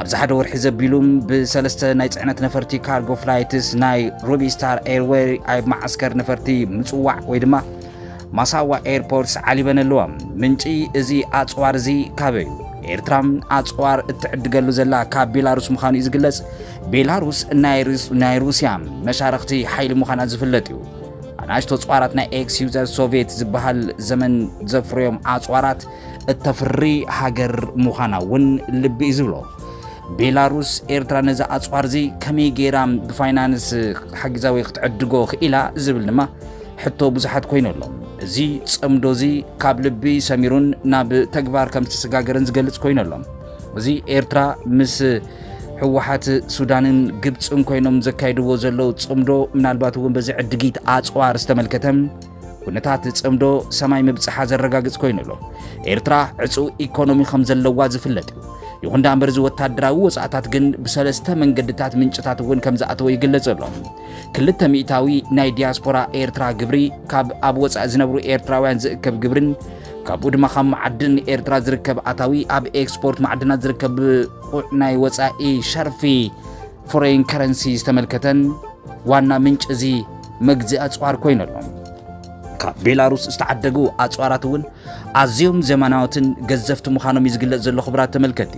ኣብዚ ሓደ ወርሒ ዘቢሉ ብሰለስተ ናይ ፅዕነት ነፈርቲ ካርጎ ፍላይትስ ናይ ሩቢ ስታር ኤርዌይ ኣብ መዓስከር ነፈርቲ ምፅዋዕ ወይ ድማ ማሳዋ ኤርፖርትስ ዓሊበን ኣለዋ ምንጪ እዚ ኣፅዋር እዚ ካበይ እዩ ኤርትራ ኣፅዋር እትዕድገሉ ዘላ ካብ ቤላሩስ ምዃኑ እዩ ዝግለጽ ቤላሩስ ናይ ሩስያ መሻርኽቲ ሓይሊ ምዃና ዝፍለጥ እዩ ኣናእሽቶ ኣፅዋራት ናይ ኤክስ ዩዘር ሶቪየት ዝበሃል ዘመን ዘፍርዮም ኣፅዋራት እተፍሪ ሃገር ምዃና እውን ልቢ እዩ ዝብሎ። ቤላሩስ ኤርትራ ነዚ ኣጽዋር እዚ ከመይ ገይራ ብፋይናንስ ሓጊዛ ወይ ክትዕድጎ ክኢላ ዝብል ድማ ሕቶ ብዙሓት ኮይኑ ኣሎ። እዚ ጽምዶ እዚ ካብ ልቢ ሰሚሩን ናብ ተግባር ከም ዝተሰጋገረን ዝገልጽ ኮይኑ ኣሎ። እዚ ኤርትራ ምስ ህወሓት ሱዳንን ግብፅን ኮይኖም ዘካይድዎ ዘለው ጽምዶ ምናልባት እውን በዚ ዕድጊት ኣጽዋር ዝተመልከተ ኩነታት ጽምዶ ሰማይ ምብጽሓ ዘረጋግጽ ኮይኑ ኣሎ። ኤርትራ ዕጹው ኢኮኖሚ ከም ዘለዋ ዝፍለጥ እዩ። ይኹን ዳ እምበር እዚ ወታደራዊ ወጻእታት ግን ብሰለስተ መንገድታት ምንጭታት እውን ከም ዝኣተወ ይግለጽ ኣሎ። ክልተ ሚእታዊ ናይ ዲያስፖራ ኤርትራ ግብሪ ካብ ኣብ ወጻኢ ዝነብሩ ኤርትራውያን ዝእከብ ግብርን ካብኡ ድማ ካብ መዓድን ኤርትራ ዝርከብ ኣታዊ ኣብ ኤክስፖርት ማዕድናት ዝርከብ ብቑዕ ናይ ወጻኢ ሸርፊ ፎረይን ከረንሲ ዝተመልከተን ዋና ምንጭ እዚ መግዚ ኣጽዋር ኮይኑ ኣሎ። ካብ ቤላሩስ ዝተዓደጉ ኣጽዋራት እውን ኣዝዮም ዘመናዎትን ገዘፍቲ ምዃኖም እዩ ዝግለጽ ዘሎ ክቡራት ተመልከቲ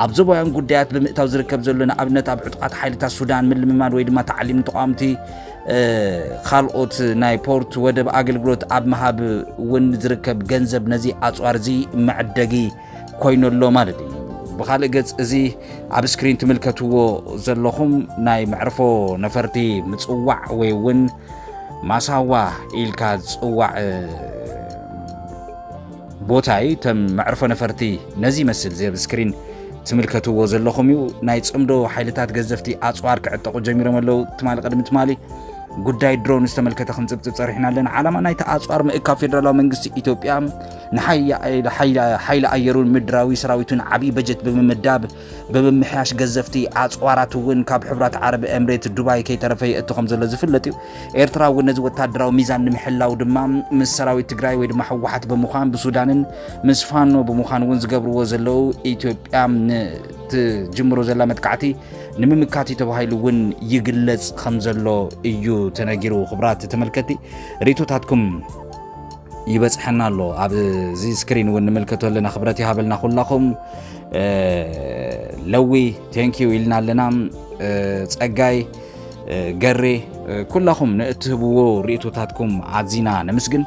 ኣብ ዞባውያን ጉዳያት ብምእታው ዝርከብ ዘሎ ንኣብነት ኣብ ዕጡቓት ሓይልታት ሱዳን ምልምማድ ወይ ድማ ታዕሊም ተቋምቲ ካልኦት ናይ ፖርት ወደብ ኣገልግሎት ኣብ ምሃብ እውን ዝርከብ ገንዘብ ነዚ ኣጽዋር እዚ መዕደጊ ኮይኑ ኣሎ ማለት እዩ ብካልእ ገጽ እዚ ኣብ ስክሪን ትምልከትዎ ዘለኹም ናይ መዕርፎ ነፈርቲ ምጽዋዕ ወይ እውን ማሳዋ ኢልካ ዝጽዋዕ ቦታይ ተም መዕርፎ ነፈርቲ ነዚ ይመስል እዚ ኣብ ስክሪን ትምልከትዎ ዘለኹም እዩ ናይ ጽምዶ ሓይልታት ገዘፍቲ ኣፅዋር ክዕጠቑ ጀሚሮም ኣለዉ ትማሊ ቅድሚ ትማሊ ጉዳይ ድሮን ዝተመልከተ ክንፅብፅብ ፀሪሕና ኣለና ዓላማ ናይቲ ኣፅዋር ምእካብ ፌደራላዊ መንግስቲ ኢትዮጵያ ንሓይሊ ኣየሩን ምድራዊ ሰራዊቱን ዓብዪ በጀት ብምምዳብ ብምምሕያሽ ገዘፍቲ ኣፅዋራት እውን ካብ ሕብራት ዓረብ ኤምሬት ዱባይ ከይተረፈ የእቱ ከም ዘሎ ዝፍለጥ እዩ። ኤርትራ እውን ነዚ ወታደራዊ ሚዛን ንምሕላው ድማ ምስ ሰራዊት ትግራይ ወይ ድማ ህወሓት ብምዃን ብሱዳንን ምስ ፋኖ ብምዃን እውን ዝገብርዎ ዘለው ኢትዮጵያ ንትጅምሮ ዘላ መጥቃዕቲ ንምምካት እዩ ተባሂሉ እውን ይግለጽ ከም ዘሎ እዩ ተነጊሩ። ክብራት ተመልከቲ ሪቶታትኩም ይበጽሐና ኣሎ ኣብዚ ስክሪን እውን ንምልከቶ ኣለና ክብረት ይሃበልና ኩላኹም ለዊ ቴንኪዩ ኢልና ኣለና ጸጋይ ገሬ ኩላኹም ንእትህብዎ ርእቶታትኩም ኣዚና ነምስግን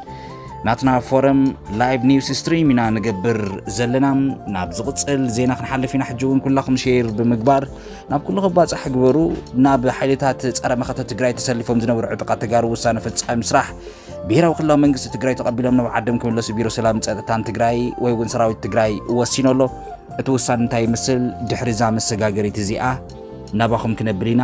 ናትና ፎረም ላይቭ ኒውስ ስትሪም ኢና ንገብር ዘለና ናብ ዝቕፅል ዜና ክንሓልፍ ኢና ሕጂ እውን ኩላኹም ሼር ብምግባር ናብ ኩሉ ክባፃሕ ግበሩ ናብ ሓይልታት ፀረ መኸተ ትግራይ ተሰሊፎም ዝነበሩ ዕጡቃት ተጋሩ ውሳነ ፈፃሚ ስራሕ ብሄራዊ ክልላዊ መንግስቲ ትግራይ ተቐቢሎም ናብ ዓዶም ክምለሱ ቢሮ ሰላምን ፀጥታን ትግራይ ወይ እውን ሰራዊት ትግራይ ወሲኑ ኣሎ። እቲ ውሳነ እንታይ ይመስል? ድሕሪ እዛ መሰጋገሪት እዚኣ ናባኹም ክነብል ኢና።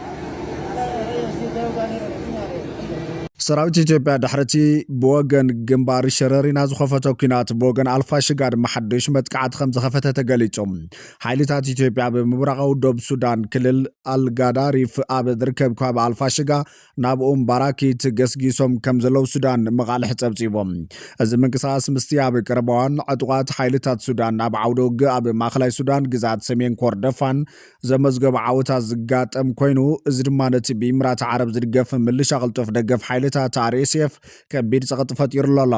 ሰራዊት ኢትዮጵያ ድሕሪ'ቲ ብወገን ግንባር ሸረሪና ዝኸፈቶ ኲናት ብወገን ኣልፋሽጋ ድማ ሓድሽ መጥቃዕቲ ከም ዝኸፈተ ተገሊጹ። ሓይልታት ኢትዮጵያ ኣብ ምብራቓዊ ዶብ ሱዳን ክልል ኣልጋዳሪፍ ኣብ ዝርከብ ከባቢ ኣልፋሽጋ ናብ ኡም ባራኪት ገስጊሶም ከም ዘለዉ ሱዳን መቓልሕ ጸብጺቡ። እዚ ምንቅስቓስ ምስቲ ኣብ ቀረባዋን ዕጡቓት ሓይልታት ሱዳን ኣብ ዓውደ ውግእ ኣብ ማእከላይ ሱዳን ግዝኣት ሰሜን ኮርደፋን ዘመዝገቦ ዓወታት ዝጋጠም ኮይኑ እዚ ድማ ነቲ ብኢምራት ዓረብ ዝድገፍ ምልሻ ቅልጡፍ ደገፍ ሓይልታት RSF ከቢድ ጸቕጢ ፈጢሩሉ ኣሎ።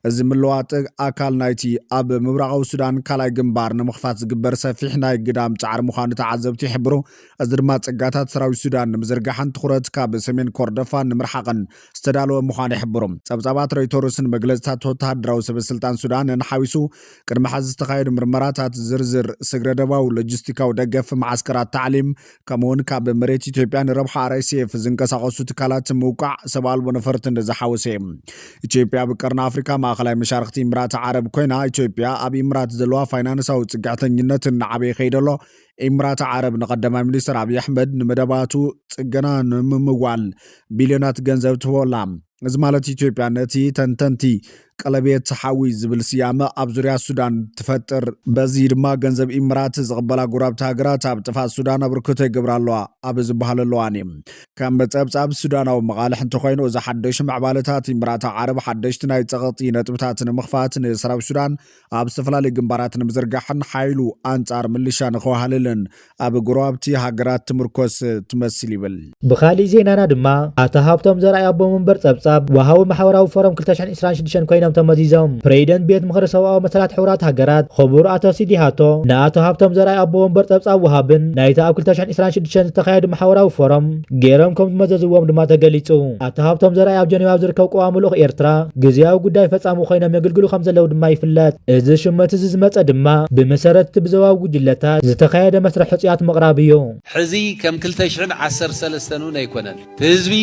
እዚ ምልዋጥ ኣካል ናይቲ ኣብ ምብራቓዊ ሱዳን ካልኣይ ግንባር ንምኽፋት ዝግበር ሰፊሕ ናይ ግዳም ጻዕሪ ምዃኑ ተዓዘብቲ ይሕብሩ። እዚ ድማ ጸጋታት ሰራዊት ሱዳን ንምዝርጋሕን ትኹረት ካብ ሰሜን ኮርደፋን ንምርሓቕን ዝተዳለወ ምዃኑ ይሕብሩ። ጸብጻባት ሮይቶርስን መግለጺታት ወተሃደራዊ ሰበስልጣን ሱዳንን ሓዊሱ፣ ቅድሚ ሕዚ ዝተኻየዱ ምርመራታት፣ ዝርዝር ስግረ-ዶባዊ ሎጂስቲካዊ ደገፍ፣ መዓስከራት ታዕሊም፣ ከምኡ'ውን ካብ መሬት ኢትዮጵያ ንረብሓ RSF ዝንቀሳቐሱ ትካላት ምውቃዕ ሰብ ኣልቦ ነፈርትን ዝሓወሰ እዩ። ኢትዮጵያ ኣብ ቀርኒ ኣፍሪቃ ማእከላይ መሻርኽቲ ኢምራት ዓረብ ኮይና፣ ኢትዮጵያ ኣብ ኢምራት ዘለዋ ፋይናንሳዊ ጽግዕተኝነት እናዓበየ ከይዱ ኣሎ። ኢምራት ዓረብ ንቀዳማይ ሚኒስትር ኣብዪ ኣሕመድ ንመደባቱ ጽገና ንምምዋል ቢልዮናት ገንዘብ ትህቦ ኣላ። እዚ ማለት ኢትዮጵያ ነቲ ተንተንቲ ቀለቤት ሓዊ ዝብል ስያመ ኣብ ዙርያ ሱዳን ትፈጥር። በዚ ድማ ገንዘብ ኢምራት ዝቕበላ ጎረባብቲ ሃገራት ኣብ ጥፍኣት ሱዳን ኣበርክቶ ይገብራ ኣለዋ ኣብ ዝበሃለሉ እዋን እዩ። ከም ጸብጻብ ሱዳናዊ መቓልሕ እንተኾይኑ እዚ ሓደሽ ምዕባለታት ኢምራት ዓረብ ሓደሽቲ ናይ ጸቕጢ ነጥብታት ንምኽፋት ንሰራዊት ሱዳን ኣብ ዝተፈላለዩ ግንባራት ንምዝርጋሕን ሓይሉ ኣንጻር ምልሻ ንኸዋህልልን ኣብ ጎረባብቲ ሃገራት ትምርኮስ ትመስል ይብል። ብኻሊእ ዜናና ድማ ኣቶ ሃብቶም ዘርኣይ ኣቦ መንበር ጸብጻብ ወሃቢ ማሕበራዊ ፎረም ክልተ ሽሕን ዕስራን ሽዱሽተን ኮይኖም ተመዚዞም። ፕሬዚደንት ቤት ምኽሪ ሰብኣዊ መሰላት ሕቡራት ሃገራት ኽቡር ኣቶ ሲዲሃቶ ንኣቶ ሃብቶም ዘርኣይ ኣቦ ወንበር ጸብጻብ ወሃብን ናይቲ ኣብ ክልተ ሽሕን ዕስራን ሽዱሽተን ዝተኻየዱ ማሕበራዊ ፎረም ገይሮም ከም ዝመዘዝዎም ድማ ተገሊጹ። ኣቶ ሃብቶም ዘርኣይ ኣብ ጀኔቫ ኣብ ዝርከብ ቀዋሚ ልኡኽ ኤርትራ ግዝያዊ ጉዳይ ፈጻሚ ኮይኖም የግልግሉ ከም ዘለዉ ድማ ይፍለጥ። እዚ ሽመት እዚ ዝመጸ ድማ ብመሰረት እቲ ብዞባዊ ጉጅለታት ዝተኻየደ መስርሕ ሕጹያት ምቕራብ እዩ። ሕዚ ከም ክልተ ሽሕን ዓሰርተ ሰለስተን እውን ኣይኮነን። እቲ ህዝቢ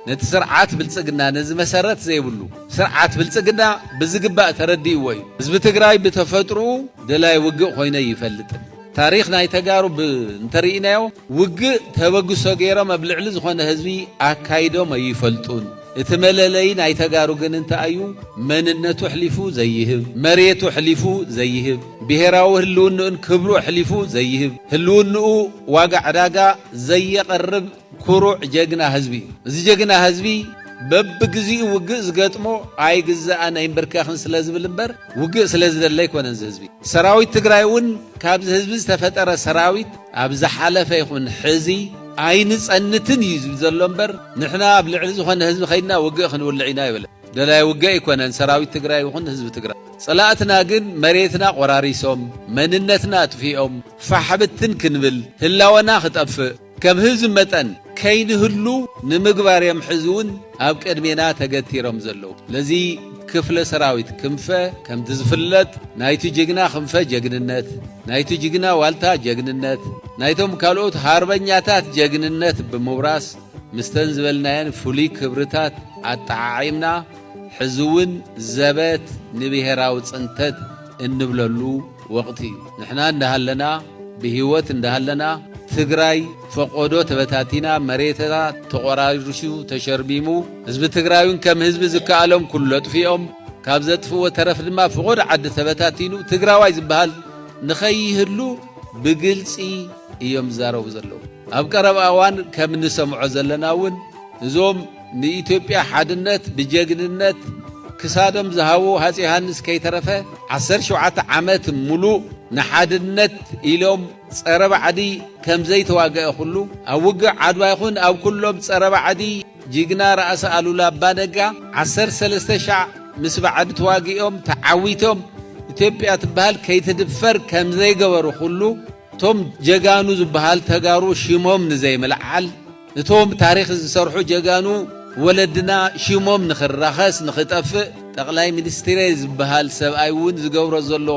ነቲ ስርዓት ብልጽግና ነዚ መሰረት ዘይብሉ ስርዓት ብልጽግና ብዝግባእ ተረዲእዎ እዩ። ህዝቢ ትግራይ ብተፈጥርኡ ደላይ ውግእ ኮይነ ኣይፈልጥን። ታሪኽ ናይ ተጋሩ ብ እንተሪኢናዮ ውግእ ተበግሶ ገይሮም ኣብ ልዕሊ ዝኾነ ህዝቢ ኣካይዶም ኣይፈልጡን። እቲ መለለዪ ናይ ተጋሩ ግን እንታይ እዩ? መንነቱ ኣሕሊፉ ዘይህብ፣ መሬቱ ኣሕሊፉ ዘይህብ፣ ብሄራዊ ህልውንኡን ክብሩ ኣሕሊፉ ዘይህብ፣ ህልውንኡ ዋጋ ዕዳጋ ዘየቕርብ፣ ኩሩዕ ጀግና ህዝቢ እዩ እዚ ጀግና ህዝቢ በብግዚኡ ውግእ ዝገጥሞ ኣይግዛእን ኣይምብርከኽን ስለዝብል እምበር ውግእ ስለዝደሊ ኣይኮነን እዚ ህዝቢ ሰራዊት ትግራይ እውን ካብዚ ህዝቢ ዝተፈጠረ ሰራዊት ኣብ ዝሓለፈ ይኹን ሕዚ ኣይንፀንትን እዩ ዝብል ዘሎ እምበር ንሕና ኣብ ልዕሊ ዝኾነ ህዝቢ ከይድና ውግእ ክንውልዕ ኢና ኣይበለን ደላይ ውግእ ኣይኮነን ሰራዊት ትግራይ ይኹን ህዝቢ ትግራይ ፀላእትና ግን መሬትና ቆራሪሶም መንነትና ኣጥፊኦም ፋሕብትን ክንብል ህላወና ክጠፍእ ከም ህዝቢ መጠን ከይንህሉ ንምግባር እዮም ሕዚ እውን ኣብ ቅድሜና ተገቲሮም ዘለዉ። ነዚ ክፍለ ሰራዊት ክንፈ ከምቲ ዝፍለጥ ናይቲ ጅግና ክንፈ ጀግንነት፣ ናይቲ ጅግና ዋልታ ጀግንነት፣ ናይቶም ካልኦት ሃርበኛታት ጀግንነት ብምውራስ ምስተን ዝበልናየን ፍሉይ ክብርታት ኣጠዓዒምና ሕዚ እውን ዘበት ንብሄራዊ ፅንተት እንብለሉ ወቕቲ እዩ። ንሕና እንዳሃለና ብሂወት እንዳሃለና ትግራይ ፈቆዶ ተበታቲና መሬታ ተቖራሪሱ ተሸርሚሙ ህዝቢ ትግራይውን ከም ህዝቢ ዝከኣሎም ኩሉ ኣጥፊኦም ካብ ዘጥፍዎ ተረፍ ድማ ፍቆዶ ዓዲ ተበታቲኑ ትግራዋይ ዝበሃል ንኸይህሉ ብግልፂ እዮም ዝዛረቡ ዘለዉ። ኣብ ቀረባ እዋን ከም እንሰምዖ ዘለና እውን እዞም ንኢትዮጵያ ሓድነት ብጀግንነት ክሳዶም ዝሃቡ ሃፄ ዮሃንስ ከይተረፈ ዓሰርተ ሸውዓተ ዓመት ሙሉእ ንሓድነት ኢሎም ፀረ ባዕዲ ከምዘይተዋገ ኩሉ ኣብ ውግእ ዓድዋ ይኹን ኣብ ኩሎም ፀረ ባዕዲ ጅግና ራእሲ ኣሉላ ኣባ ነጋ ዓሰርተ ሰለስተ ሻዕ ምስ ባዕዲ ተዋጊኦም ተዓዊቶም ኢትዮጵያ ትበሃል ከይትድፈር ከምዘይገበሩ ኩሉ እቶም ጀጋኑ ዝበሃሉ ተጋሩ ሽሞም ንዘይምልዓል እቶም ታሪኽ ዝሰርሑ ጀጋኑ ወለድና ሽሞም ንኽራኸስ ንኽጠፍእ ጠቕላይ ሚኒስትሬ ዝብሃል ሰብኣይ እውን ዝገብሮ ዘሎ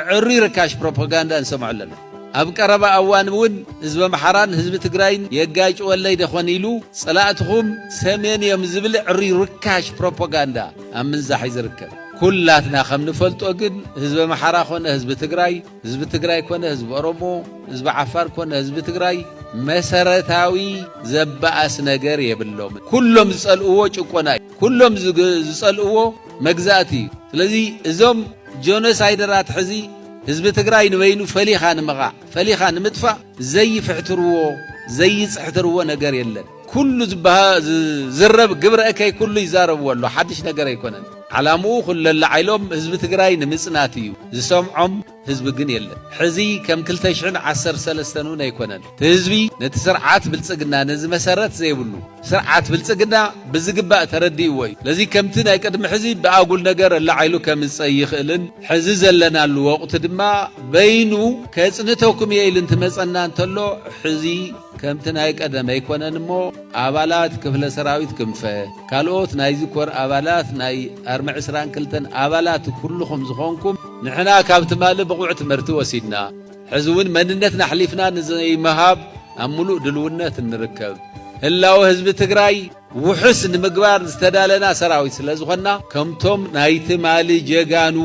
እዕሩይ ርካሽ ፕሮፖጋንዳ ንሰምዖ ኣለና። ኣብ ቀረባ ኣዋን እውን ህዝቢ ኣምሓራን ህዝቢ ትግራይን የጋጭወለይ ደኾን ኢሉ ፀላእትኹም ሰሜን እዮም ዝብል እዕሩይ ርካሽ ፕሮፖጋንዳ ኣብ ምንዛሕ እዩ ዝርከብ። ኩላትና ከም ንፈልጦ ግን ህዝቢ ኣምሓራ ኮነ ህዝቢ ትግራይ ህዝቢ ትግራይ ኮነ ህዝቢ ኦሮሞ፣ ህዝቢ ዓፋር ኮነ ህዝቢ ትግራይ መሰረታዊ ዘባኣስ ነገር የብሎም። ኩሎም ዝጸልእዎ ጭቆና እዩ። ኩሎም ዝጸልእዎ መግዛእቲ እዩ። ስለዚ እዞም ጆኖሳይደራት ሕዚ ህዝቢ ትግራይ ንበይኑ ፈሊኻ ንምቓዕ ፈሊኻ ንምጥፋእ ዘይፍሕትርዎ ዘይጽሕትርዎ ነገር የለን። ኩሉ ዝዝረብ ግብረ እከይ ኩሉ ይዛረብዎ ኣሎ ሓድሽ ነገር ኣይኮነን። ዓላምኡ ኩለላዓይሎም ህዝቢ ትግራይ ንምፅናት እዩ ዝሰምዖም ህዝቢ ግን የለን ሕዚ ከም ክልተ ሽሕን ዓሰርተ ሰለስተን እውን ኣይኮነን ትህዝቢ ነቲ ስርዓት ብልፅግና ነዚ መሰረት ዘይብሉ ስርዓት ብልፅግና ብዝግባእ ተረዲእዎ እዩ ለዚ ከምቲ ናይ ቅድሚ ሕዚ ብኣጉል ነገር ኣላዓይሉ ከምፅ ኣይኽእልን ሕዚ ዘለናሉ ወቕቲ ድማ በይኑ ከፅንተኩም እየ ኢሉ እንትመፀና እንተሎ ሕዚ ከምቲ ናይ ቀደም ኣይኮነን እሞ ኣባላት ክፍለ ሰራዊት ክንፈ፣ ካልኦት ናይዚ ኮር ኣባላት ናይ ኣርሚ ዕስራን ክልተን ኣባላት ኩሉኹም ዝኾንኩም ንሕና ካብ ትማሊ ብቑዕ ትምህርቲ ወሲድና ሕዚ እውን መንነትና ኣሕሊፍና ንዘይምሃብ ኣብ ሙሉእ ድልውነት ንርከብ። ህላወ ህዝቢ ትግራይ! ውሑስ ንምግባር ዝተዳለና ሰራዊት ስለ ዝኾንና ከምቶም ናይ ትማሊ ጀጋኑ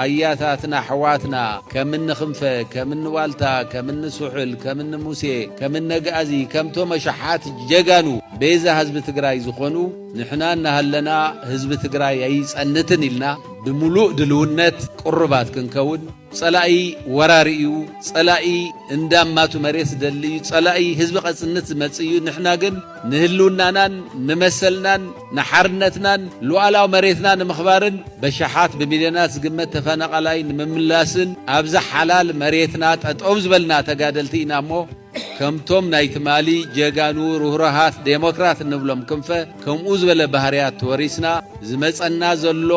ኣያታትና ኣሕዋትና ከም እኒ ክንፈ ከም እኒ ዋልታ ከም እኒ ስሑል ከም እኒ ሙሴ ከም እኒ ኣግኣዚ ከምቶም ኣሽሓት ጀጋኑ ቤዛ ህዝቢ ትግራይ ዝኾኑ ንሕና እናሃለና ህዝቢ ትግራይ ኣይፀንትን ኢልና ብምሉእ ድልውነት ቅሩባት ክንከውን ፀላኢ ወራሪ እዩ ፀላኢ እንዳማቱ መሬት ዝደሊ እዩ ፀላኢ ህዝቢ ከፅንት ዝመፅእ እዩ ንሕና ግን ንህልውናናን ንመሰልናን ንሓርነትናን ሉኣላዊ መሬትና ንምኽባርን በሽሓት ብሚልዮናት ዝግመት ተፈናቓላይ ንምምላስን ኣብዛ ሓላል መሬትና ጠጠው ዝበልና ተጋደልቲ ኢና እሞ ከምቶም ናይ ትማሊ ጀጋኑ ርህሩሃት ዴሞክራት እንብሎም ክንፈ ከምኡ ዝበለ ባህርያት ተወሪስና ዝመፀና ዘሎ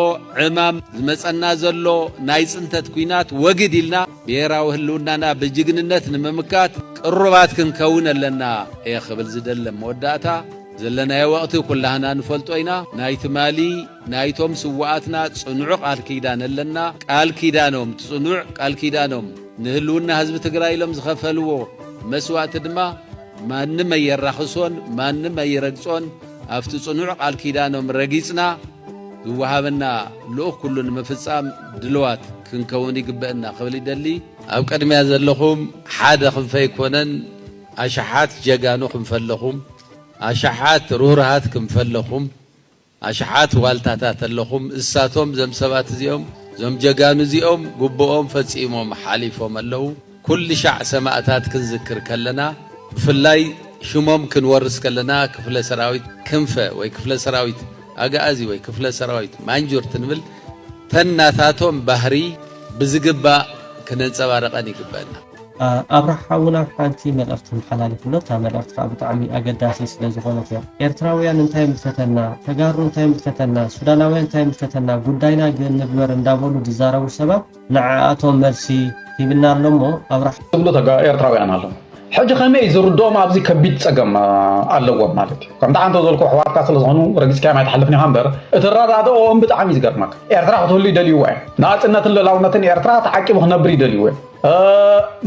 ዕማም ዝመፀና ዘሎ ናይ ፅንተት ኩናት ወግድ ኢልና ብሄራዊ ህልውናና ብጅግንነት ንምምካት ቅሩባት ክንከውን ኣለና እየ ክብል ዝደሊ። ኣብ መወዳእታ፣ ዘለናዮ ወቕቲ ኩላህና ንፈልጦ ኢና። ናይ ትማሊ ናይቶም ስውኣትና ፅኑዑ ቃል ኪዳን ኣለና። ቃል ኪዳኖም፣ እቲ ፅኑዕ ቃል ኪዳኖም ንህልውና ህዝቢ ትግራይ ኢሎም ዝኸፈልዎ መስዋእቲ ድማ ማንም ኣየራኽሶን፣ ማንም ኣይረግፆን። ኣብቲ ፅኑዕ ቃል ኪዳኖም ረጊፅና፣ ዝወሃበና ልኡኽ ኩሉ ንምፍጻም ድልዋት ክንከውን ይግበእና ክብል ይደሊ። ኣብ ቅድሚያ ዘለኹም ሓደ ክንፈ ኣይኮነን ኣሽሓት ጀጋኑ ክንፈ ኣለኹም፣ ኣሽሓት ርህሩሃት ክንፈ ኣለኹም፣ ኣሽሓት ዋልታታት ኣለኹም። እሳቶም እዞም ሰባት እዚኦም እዞም ጀጋኑ እዚኦም ግቡኦም ፈጺሞም ሓሊፎም ኣለዉ። ኩልሻዕ ሰማእታት ክንዝክር ከለና ብፍላይ ሽሞም ክንወርስ ከለና ክፍለ ሰራዊት ክንፈ ወይ ክፍለ ሰራዊት ኣግኣዚ ወይ ክፍለ ሰራዊት ማንጁርት ንብል ተን ናታቶም ባህሪ ብዝግባእ ክነንጸባርቀን ይግበእና። ኣብርሃ ሓውና ሓንቲ መልእኽቲ መሓላልፍ ኣሎ እታ መልእኽቲ ከኣ ብጣዕሚ ኣገዳሲት ስለ ዝኾነት እያ ኤርትራውያን እንታይ ምፈተና ተጋሩ እንታይ ምፈተና ሱዳናውያን እንታይ ምፈተና ጉዳይና ግን ንግበር እንዳበሉ ዝዛረቡ ሰባት ንዓኣቶም መልሲ ሂብና ኣሎ እሞ ኣብርሃ። ዝብሉ ተጋ ኤርትራውያን ኣለዉ ሕጂ ከመይ እዩ ዝርድኦም ኣብዚ ከቢድ ጸገም ኣለዎም ማለት እዩ ከምቲ ዓንተ ዘልኩ ኣሕዋትካ ስለ ዝኾኑ ረጊጽካዮም ኣይትሓልፍን ኢኻ እምበር እቲ ኣረዳድኦም ብጣዕሚ እዩ ዝገርመካ ኤርትራ ክትህሉ ይደልይዎ እዮም ናጽነትን ልላውነትን ኤርትራ ተዓቂቡ ክነብር ይደልይዎ እዮም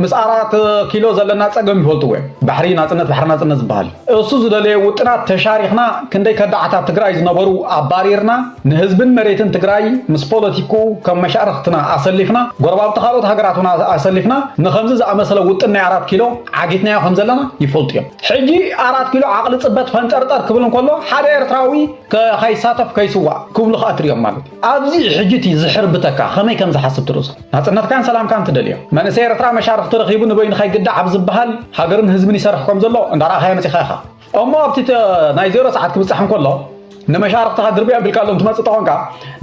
ምስ ኣራት ኪሎ ዘለና ጸገም ይፈልጥዎ እዮም ባሕሪ ናጽነት ባሕሪ ናጽነት ዝበሃል እሱ ዝደለየ ውጥናት ተሻሪኽና ክንደይ ከዳዓታት ትግራይ ዝነበሩ ኣባሪርና ንህዝብን መሬትን ትግራይ ምስ ፖለቲኩ ከም መሻርኽትና ኣሰሊፍና ጎረባብቲ ካልኦት ሃገራት እውን ኣሰሊፍና ንኸምዚ ዝኣመሰለ ውጥን ናይ ኣራት ኪሎ ዓጊትናዮ ከም ዘለና ይፈልጡ እዮም። ሕጂ ኣራት ኪሎ ዓቕሊ ጽበት ፈንጠርጠር ክብል እንከሎ ሓደ ኤርትራዊ ከይሳተፍ ከይስዋእ ክብሉ ከኣ ትርእዮም ማለት እዩ። ኣብዚ ሕጂ እቲ ዝሕርብተካ ከመይ ከም ዝሓስብ ትርእሶ። ናጽነትካን ሰላምካን ትደልዮ። መንእሰይ ኤርትራ መሻርኽቲ ረኺቡ ንበይኑ ከይግዳዕ ኣብ ዝበሃል ሃገርን ህዝብን ይሰርሕ ከም ዘሎ እንዳረኣኻዮ መጺኻ ኢኻ። እሞ ኣብቲ ናይ ዜሮ ሰዓት ክብፃሕ እንከሎ ንመሻርክትኻ ድርቢ ኣቢልካሎም ትመፅእ ተኾንካ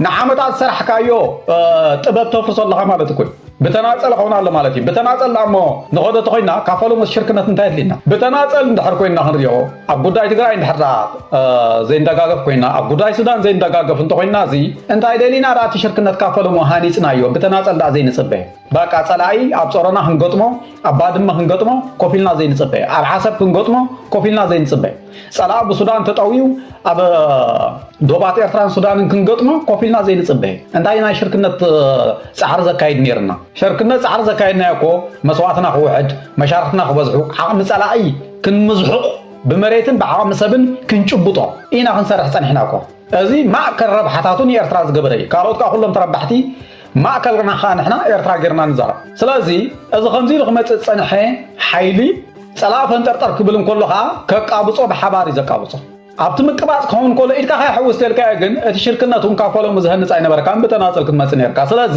ንዓመታት ዝሰራሕካዮ ጥበብ ተፍርሶ ኣለኻ ማለት እኮ ብተናፀል ኸውን ኣሎ ማለት እዩ ብተናፀል ዳ እሞ ንኸዶ ተኮይና ካብ ፈለሞስ ሽርክነት እንታይ ኣድልየና ብተናፀል እንድሕር ኮይና ክንሪኦ ኣብ ጉዳይ ትግራይ እንድሕር ዳ ዘይንደጋገፍ ኮይና ኣብ ጉዳይ ሱዳን ዘይንደጋገፍ እንተኮይና እዚ እንታይ ደሊና ዳ እቲ ሽርክነት ካብ ፈለሞ ሃኒፅናዮ ብተናፀል ዳ ዘይንፅበ ባቃ ጸላኢ ኣብ ጾሮና ክንገጥሞ ኣብ ባድመ ክንገጥሞ ኮፍ ኢልና ዘይንጽበ ኣብ ዓሰብ ክንገጥሞ ኮፍ ኢልና ዘይንጽበ ጸላኢ ብሱዳን ተጠውዩ ኣብ ዶባት ኤርትራን ሱዳንን ክንገጥሞ ኮፍ ኢልና ዘይንጽበ እንታይ ናይ ሽርክነት ጻዕሪ ዘካይድ ነይርና ሸርክነት ጻዕሪ ዘካይድናዮ እኮ መስዋእትና ክውሕድ መሻርክትና ክበዝሑ ዓቕሚ ጸላኢ ክንምዝሑቕ ብመሬትን ብዓቕሚ ሰብን ክንጭብጦ ኢና ክንሰርሕ ጸኒሕና እኮ እዚ ማእከል ረብሓታቱ ንኤርትራ ዝገበረ እዩ ካልኦት ከዓ ኩሎም ተረባሕቲ ማእከልና ከኣ ንሕና ኤርትራ ጌርና ንዛረብ። ስለዚ እዚ ከምዚ ኢሉ ክመጽእ ዝጸንሐ ሓይሊ ጸላኢ ፈንጠርጠር ክብል እንከሎ ከኣ ከቃብጾ ብሓባር እዩ ዘቃብጾ። ኣብቲ ምቅባጽ ክኸውን እንከሎ ኢድካ ከይሕውስ ተልካዮ ግን እቲ ሽርክነት እውን ካብ ፈለሙ ዝሀንጽ ኣይነበረካን ብተናጸል ክትመጽእ ነርካ። ስለዚ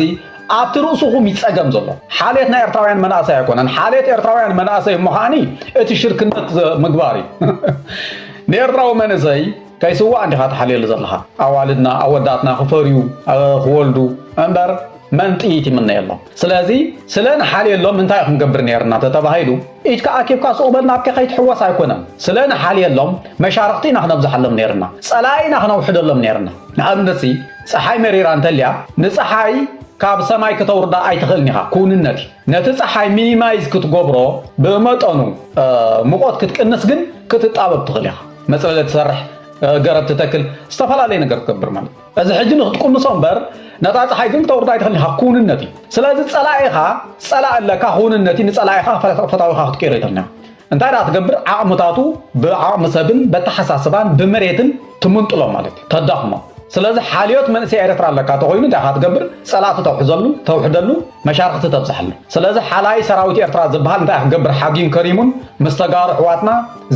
ኣብቲ ርእሱኹም እዩ ጸገም ዘሎ። ሓልየት ናይ ኤርትራውያን መናእሰይ ኣይኮነን። ሓልየት ኤርትራውያን መናእሰይ እሞ ከኣኒ እቲ ሽርክነት ምግባር እዩ። ንኤርትራዊ መንእሰይ ከይስዋኣ ዲኻ ትሓልየሉ ዘለኻ ኣዋልድና ኣወዳትና ክፈርዩ ክወልዱ እምበር መን ጥይት ይምነየሎም ስለዚ ስለ ንሓልየሎም እንታይ ክንገብር ነርና ተተባሂሉ ኢድካ ኣኪብካ ሱቕ በል ናብከ ከይትሕወስ ኣይኮነን ስለ ንሓልየሎም መሻርኽቲ ኢና ክነብዝሓሎም ነርና ጸላኢ ኢና ክነውሕደሎም ነርና ንኣብነትሲ ፀሓይ መሪራ እንተልያ ንፀሓይ ካብ ሰማይ ክተውርዳ ኣይትኽእልን ኢኻ ክውንነት እዩ ነቲ ፀሓይ ሚኒማይዝ ክትገብሮ ብመጠኑ ሙቆት ክትቅንስ ግን ክትጣበብ ትኽእል ኢኻ መጽለሊ ትሰርሕ፣ ገረብ ትተክል፣ ዝተፈላለየ ነገር ትገብር ማለት እዩ። እዚ ሕጂ ንክትቁንሶ እምበር ነታ ፀሓይ ግን ክተውርዳ ኣይትኽእልን ኢኻ፣ ክውንነት እዩ። ስለዚ ፀላኢኻ ፀላኢ ኣለካ፣ ክውንነት እዩ፣ ንፀላኢኻ ፈታዊኻ ክትቅይሮ ኣይትኽእልን ኢኻ። እንታይ ደኣ ትገብር ዓቕምታቱ ብዓቕሚ ሰብን በተሓሳስባን ብመሬትን ትምንጥሎ ማለት እዩ፣ ተዳኽሞ። ስለዚ ሓልዮት መንእሰይ ኤርትራ ኣለካ ተኾይኑ እንታይ ኢኻ ትገብር ፀላእቲ ተውሕዘሉ ተውሕደሉ መሻርኽቲ ተብዝሓሉ። ስለዚ ሓላይ ሰራዊት ኤርትራ ዝበሃል እንታይ ክገብር ሓጊም ከሪሙን ምስ ተጋሩ ኣሕዋትና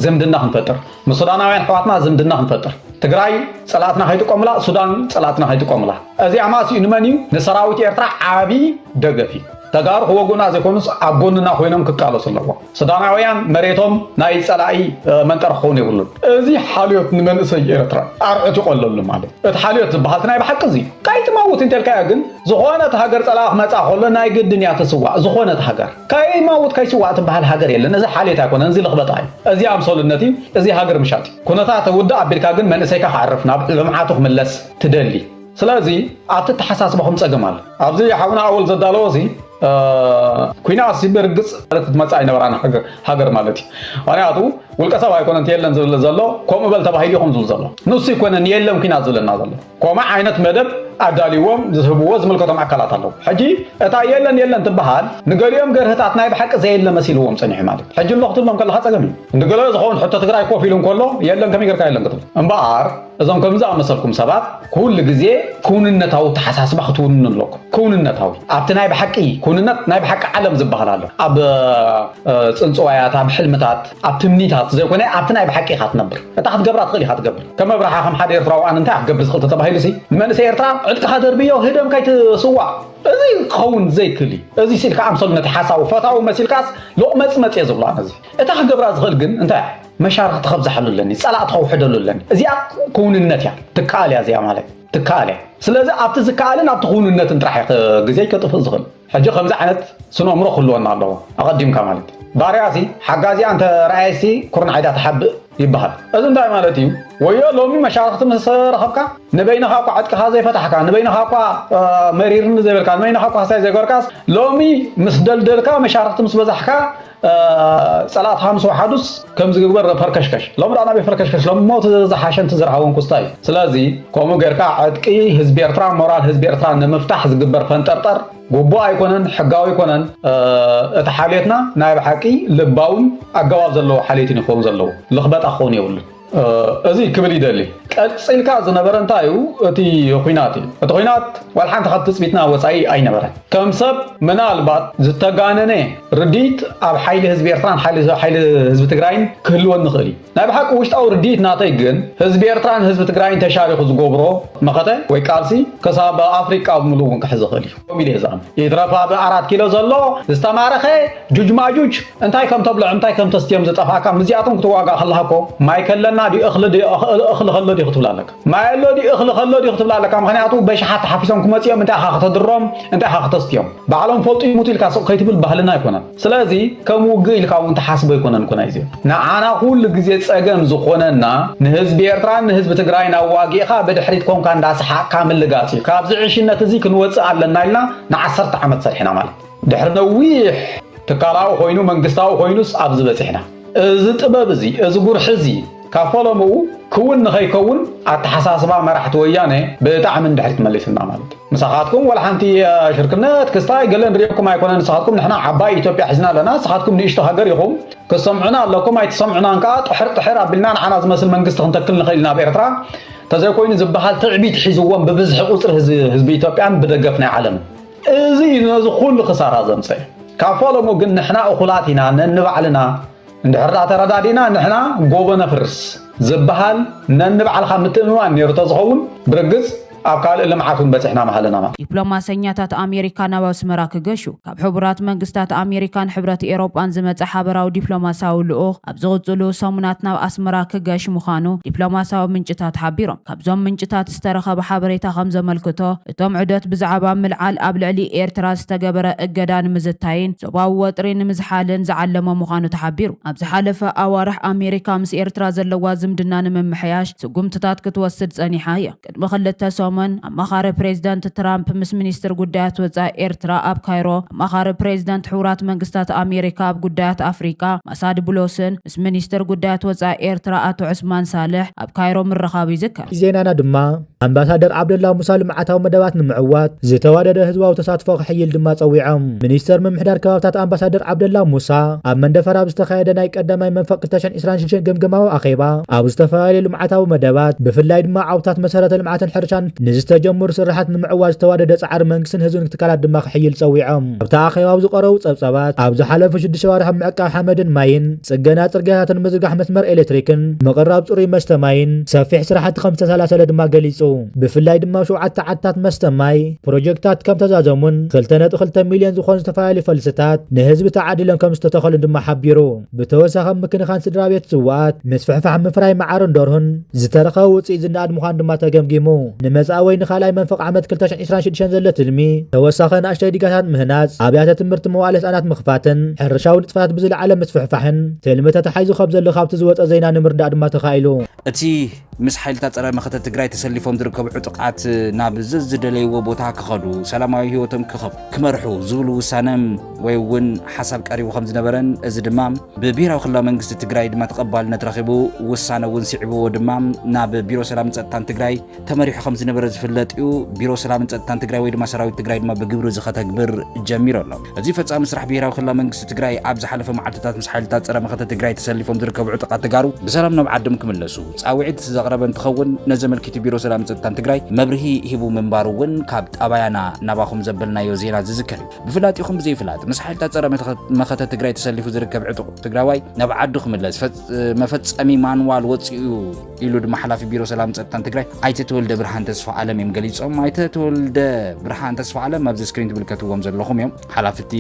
ዝምድና ክንፈጥር ምስ ሱዳናውያን ኣሕዋትና ዝምድና ክንፈጥር ትግራይ ፀላእትና ከይጥቀሙላ ሱዳን ፀላእትና ከይጥቀሙላ እዚ ኣማስኡ ንመን እዩ ንሰራዊት ኤርትራ ዓብዪ ደገፍ እዩ ተጋሩ ክወጉና ዘይኮኑስ ኣብ ጎንና ኮይኖም ክቃለሱ ኣለዎ ሱዳናውያን መሬቶም ናይ ፀላኢ መንጠር ክኸውን የብሉን እዚ ሓልዮት ንመንእሰይ ኤርትራ ኣርዑት ይቆለሉ ማለት እቲ ሓልዮት ዝበሃል ናይ ብሓቂ እዚ ካይትመውት እንተልካዮ ግን ዝኾነት ሃገር ፀላኢ ክመፃ ከሎ ናይ ግድን እያ ትስዋእ ዝኾነት ሃገር ከይማውት ከይስዋእ ትባሃል ሃገር የለን እዚ ሓልየት ኣይኮነን እዚ ልኽበጣ እዩ እዚ ኣምሰሉነት እዩ እዚ ሃገር ምሻጥ እዩ ኩነታት ውድእ ኣቢልካ ግን መንእሰይካ ክዓርፍ ናብ ልምዓቱ ክምለስ ትደሊ ስለዚ ኣብቲ ኣተሓሳስባኹም ጸገም ኣሎ ኣብዚ ሓውና ኣወል ዘዳለዎ እዚ ኩናት ሲ ብርግጽ ማለት መጻ ኣይነበራን ሃገር ማለት እዩ ምክንያቱ ውልቀ ሰብ ኣይኮነን የለን ዝብል ዘሎ ከምኡ በል ተባሂሉ ይኹም ዝብል ዘሎ ንሱ ይኮነን የለን ኩናት ዝብለና ዘሎ ኮምእ ዓይነት መደብ ኣዳልዎም ዝህብዎ ዝምልከቶም ኣካላት ኣለዉ ሕጂ እታ የለን የለን ትበሃል ንገሊኦም ገርህታት ናይ ብሓቂ ዘየለ መሲልዎም ጸኒሑ ማለት ሕጂ ኣሎ ክትብሎም ከለካ ጸገም እዩ ንገለ ዝኸውን ሕቶ ትግራይ ኮፍ ኢሉ እንከሎ የለን ከመይ ጌርካ የለን ክትብል እምበኣር እዞም ከምዚ ኣመሰልኩም ሰባት ኩሉ ግዜ ክውንነታዊ ተሓሳስባ ክትውንኑ ኣለኩም ክውንነታዊ ኣብቲ ናይ ብሓቂ ክውንነት ናይ ብሓቂ ዓለም ዝበሃል ኣሎ ኣብ ጽንጽዋያት ኣብ ሕልምታት ኣብ ትምኒት ኣብቲ ዘይኮነ ኣብቲ ናይ ብሓቂ ኢኻ ትነብር እታ ክትገብራ ትኽእል ኢኻ ትገብር ከም ኣብርሓ ከም ሓደ ኤርትራዊ ኣነ እንታይ ክገብር ዝኽእል ተተባሂሉሲ ንመንእሰይ ኤርትራ ዕጥቅኻ ደርብዮ ህደም ካይትስዋእ እዚ ክኸውን ዘይክእል እዩ እዚ ስኢልካ ኣምሰሉ ነቲ ሓሳዊ ፈታዊ መሲልካስ ሎቕመጽመጽ እየ ዝብሎ ኣነዚ እታ ክገብራ ዝኽእል ግን እንታይ እያ መሻርኽቲ ከብዛሓሉ ኣለኒ ጸላእቲ ከውሕደሉ ኣለኒ እዚኣ ክውንነት እያ ትከኣል እያ እዚኣ ማለት ትከኣል እያ ስለዚ ኣብቲ ዝከኣልን ኣብቲ ክውንነትን ጥራሕ እየ ግዜ ከጥፍእ ዝኽእል ሕጂ ከምዚ ዓይነት ስነእምሮ ክህልወና ኣለዎ ኣቀዲምካ ማለት ባርያ ሲ ሓጋዚኣ እንተ ረኣየት ሲ ኩርናዓይ ድኣ ትሓብእ ይበሃል እዚ እንታይ ማለት እዩ ወዮ ሎሚ መሻርኽቲ ምስ ረኸብካ ንበይንኻ እኳ ዕጥቅኻ ዘይፈታሕካ ንበይንኻ እኳ መሪርኒ ዘይበልካ ንበይንኻ እኳ ሃሳይ ዘይገበርካስ ሎሚ ምስ ደልደልካ መሻርኽቲ ምስ በዛሕካ ጸላእት ሃምስ ወሓዱስ ከምዚ ግግበር ረፈርከሽከሽ ሎም ዳኣ ናበይ ፈርከሽከሽ ሎም ሞት ዝዝሓሸን ትዝርሃውን ኩስታይ ስለዚ ከምኡ ገርካ ዕጥቂ ህዝቢ ኤርትራ ሞራል ህዝቢ ኤርትራ ንምፍታሕ ዝግበር ፈንጠርጠር ጉቡእ ኣይኮነን ሕጋዊ ኣይኮነን እቲ ሓልዮትና ናይ ብሓቂ ልባውን ኣገባብ ዘለዎ ሓልዮትን ይኸውን ዘለዎ ልኽበጣ ክኸውን የብሉን እዚ ክብል ይደሊ ቀጺልካ ዝነበረ እንታይ እዩ እቲ ኹናት እዩ እቲ ኹናት ዋላ ሓንቲ ካብ ትጽቢትና ወጻኢ ኣይነበረን ከም ሰብ ምናልባት ዝተጋነነ ርድኢት ኣብ ሓይሊ ህዝቢ ኤርትራን ሓይሊ ህዝቢ ትግራይን ክህልወን ንኽእል እዩ ናይ ብሓቂ ውሽጣዊ ርድኢት ናተይ ግን ህዝቢ ኤርትራን ህዝቢ ትግራይን ተሻሪኹ ዝገብሮ መኸተ ወይ ቃልሲ ክሳብ ኣፍሪቃ ብምሉእ እውን ክሕዝ ይኽእል እዩ ከምኡ ኢለ እየ ዝኣምን። ይትረፍ ኣብ ኣራት ኪሎ ዘሎ ዝተማረኸ ጁጅማጁጅ እንታይ ከም ተብልዖም እንታይ ከም ተስትዮም ዝጠፍኣካ ምስዚኣቶም ክትዋጋእ ከለኻ እኮ ማይ ከለና ድዩ እኽሊ ድዩ እኽሊ ከሎ ድዩ ክትብል ኣለካ ማይ ኣሎ ድዩ እኽሊ ከሎ ድዩ ክትብል ኣለካ ምክንያቱ በሽሓት ተሓፊሶም ክመፅኦም እንታይ ኢኻ ከተድሮም እንታይ ኢኻ ክተስትዮም ባዕሎም ፈልጡ ይሙቱ ኢልካ ስቕ ከይትብል ባህልና ኣይኮነን ስለዚ ከም ውግእ ኢልካ እውን ትሓስቦ ኣይኮነን እኮ ናይዚ ንዓና ኩሉ ግዜ ጸገም ዝኾነና ንህዝቢ ኤርትራን ንህዝቢ ትግራይን ኣዋጊእኻ ብድሕሪት ኮንካ እንዳሰሓቅካ ምልጋጽ እዩ ካብዚ ዕሽነት እዚ ክንወጽእ ኣለና ኢልና ንዓሰርተ ዓመት ሰርሕና ማለት ድሕሪ ነዊሕ ትካላዊ ኮይኑ መንግስታዊ ኮይኑስ ኣብዚ በጺሕና እዚ ጥበብ እዚ እዚ ጉርሒ እዚ ካብ ፈለምኡ ክውን ንኸይከውን ኣተሓሳስባ መራሕቲ ወያነ ብጣዕሚ ንድሕሪት መሊስና ማለት እዩ። ምሳኻትኩም ዋላ ሓንቲ ሽርክነት ክስታይ ገለ ንሪኤኩም ኣይኮነን ንስኻትኩም ንሕና ዓባይ ኢትዮጵያ ሒዝና ኣለና ንስኻትኩም ንእሽቶ ሃገር ኢኹም ክትሰምዑና ኣለኩም ኣይትሰምዑናን ከኣ ጥሕር ጥሕር ኣቢልና ንዓና ዝመስል መንግስቲ ክንተክል ንኽእል ኢና ኣብ ኤርትራ ተዘይኮይኑ ዝበሃል ትዕቢት ሒዝዎም ብብዝሒ ቁጽሪ ህዝቢ ኢትዮጵያን ብደገፍ ናይ ዓለምን እዚ እዩ ነዚ ኩሉ ክሳራ ዘምፀኤ ካብ ፈለሙ ግን ንሕና እኹላት ኢና ነንባዕልና እንድሕርዳ ተረዳዲእና ንሕና ጎቦ ነፍርስ ዝብሃል ነንባዕልኻ ምትእምማን ነይሩ ተዝኸውን ብርግፅ ኣብ ካልእ ልምዓት እውን በፂሕና ምሃለና ማለት እዩ። ዲፕሎማሰኛታት ኣሜሪካ ናብ ኣስመራ ክገሹ። ካብ ሕቡራት መንግስታት ኣሜሪካን ሕብረት ኤውሮጳን ዝመጸ ሓበራዊ ዲፕሎማስያዊ ልኡኽ ኣብ ዝቕጽሉ ሰሙናት ናብ ኣስመራ ክገሽ ምዃኑ ዲፕሎማስያዊ ምንጭታት ሓቢሮም። ካብዞም ምንጭታት ዝተረኸበ ሓበሬታ ከምዘመልክቶ፣ እቶም ዑደት ብዛዕባ ምልዓል ኣብ ልዕሊ ኤርትራ ዝተገበረ እገዳ ንምዝታይን ዞባዊ ወጥሪ ንምዝሓልን ዝዓለመ ምዃኑ ተሓቢሩ። ኣብ ዝሓለፈ ኣዋርሕ ኣሜሪካ ምስ ኤርትራ ዘለዋ ዝምድና ንምምሕያሽ ስጉምትታት ክትወስድ ጸኒሓ እያ። ቅድሚ ክልተ ሰሙን፣ ኣማኻሪ ፕሬዝደንት ትራምፕ ምስ ሚኒስትር ጉዳያት ወጻኢ ኤርትራ ኣብ ካይሮ፣ ኣማኻሪ ፕሬዝደንት ሕቡራት መንግስታት ኣሜሪካ ኣብ ጉዳያት ኣፍሪቃ ማሳድ ቡሎስን፣ ምስ ሚኒስተር ጉዳያት ወጻኢ ኤርትራ ኣቶ ዑስማን ሳልሕ ኣብ ካይሮ ምርኻቡ ይዝከር። ዜናና ድማ ኣምባሳደር ዓብደላ ሙሳ ልምዓታዊ መደባት ንምዕዋት ዝተዋደደ ህዝባዊ ተሳትፎ ክሕይል ድማ ጸዊዖም። ሚኒስተር ምምሕዳር ከባብታት ኣምባሳደር ዓብደላ ሙሳ ኣብ መንደፈራ ኣብ ዝተኻየደ ናይ ቀዳማይ መንፈቕ ክልተ ሽሕን ዕስራን ሽዱሽተን ገምገማዊ ኣኼባ ኣብ ዝተፈላለዩ ልምዓታዊ መደባት ብፍላይ ድማ ዓውድታት መሰረተ ልምዓትን ሕርሻን ንዝተጀመሩ ስርሓት ንምዕዋት ዝተዋደደ ፃዕሪ መንግስትን ህዝብን ትካላት ድማ ክሕይል ፀዊዖም። ኣብቲ ኣኼባ ኣብ ዝቐረቡ ፀብፃባት፣ ኣብ ዝሓለፉ ሽዱሽተ ኣዋርሕ ኣብ ምዕቃብ ሓመድን ማይን፣ ፅገና ፅርግያታትን ምዝርጋሕ መስመር ኤሌክትሪክን፣ ምቕራብ ፅሩይ መስተ ማይን ሰፊሕ ስራሕቲ ከምዝተሰላሰለ ድማ ገሊፁ። ብፍላይ ድማ ኣብ ሸውዓተ ዓድታት መስተ ማይ ፕሮጀክትታት ከምተዛዘሙን ክልተ ነጥቢ ክልተ ሚሊየን ዝኾኑ ዝተፈላለዩ ፈልስታት ንህዝቢ ተዓዲሎም ከምዝተተኸሉን ድማ ሓቢሩ። ብተወሳኺ ኣብ ምክንኻን ስድራቤት ስዉኣት፣ ምስፍሕፋሕ ምፍራይ መዓርን ደርሁን፣ ዝተረኸበ ውጽኢት ዝነኣድ ምዃኑ ድማ ተገምጊሙ። ንመጻኢ ወይ ንኻልኣይ መንፈቕ ዓመት ክልተ ሽሕን ዕስራን ሽዱሽተን ዘሎ ትልሚ፣ ተወሳኺ ንኣሽተይ ዲጋታት ምህናጽ፣ ኣብያተ ትምህርቲ መዋእለ ህጻናት ምኽፋትን ሕርሻዊ ንጥፈታት ብዝለዓለ ምስፍሕፋሕን ትልሚ ተታሒዙ ከምዘሎ ካብቲ ዝወጸ ዜና ንምርዳእ ድማ ተኻኢሉ። እቲ ምስ ሓይልታት ፀረ መኸተ ትግራይ ተሰሊፎም ዝርከቡ ዕጡቃት ናብ ዘዝደለይዎ ቦታ ክኸዱ ሰላማዊ ህይወቶም ክመርሑ ዝብሉ ውሳነ ወይ እውን ሓሳብ ቀሪቡ ከም ዝነበረን እዚ ድማ ብብሄራዊ ክልላዊ መንግስቲ ትግራይ ድማ ተቐባልነት ረኺቡ ውሳነ እውን ስዒብዎ ድማ ናብ ቢሮ ሰላምን ፀጥታን ትግራይ ተመሪሑ ከም ዝነበረ ዝፍለጥ እዩ። ቢሮ ሰላምን ጸጥታን ትግራይ ወይ ድማ ሰራዊት ትግራይ ድማ ብግብሪ እዚ ከተግብር ጀሚሩ ኣሎ። እዚ ፈጻሚ ስራሕ ብሄራዊ ክልላዊ መንግስቲ ትግራይ ኣብ ዝሓለፈ መዓልትታት ምስ ሓይልታት ጸረ መኸተ ትግራይ ተሰሊፎም ዝርከቡ ዕጡቓት ተጋሩ ብሰላም ናብ ዓዶም ክምለሱ ጻውዒት ዘቕረበ እንትኸውን ነዚ ኣመልኪቱ ቢሮ ሰላምን ጸጥታን ትግራይ መብርሂ ሂቡ ምንባሩ እውን ካብ ጣባያና ናባኹም ዘበልናዮ ዜና ዝዝከር እዩ። ብፍላጢኹም ብዘይፍላጥ ምስ ሓይልታት ጸረ መኸተ ትግራይ ተሰሊፉ ዝርከብ ዕጡቕ ትግራዋይ ናብ ዓዱ ክምለስ መፈጸሚ ማንዋል ወጺኡ እዩ። ኢሉ ድማ ሓላፊ ቢሮ ሰላም ፀጥታን ትግራይ ኣይተ ተወልደ ብርሃን ተስፋ ኣለም እዮም ገሊፆም። ኣይተ ተወልደ ብርሃን ተስፋ ኣለም ኣብዚ ስክሪን ትምልከትዎም ዘለኹም እዮም ሓላፍቲ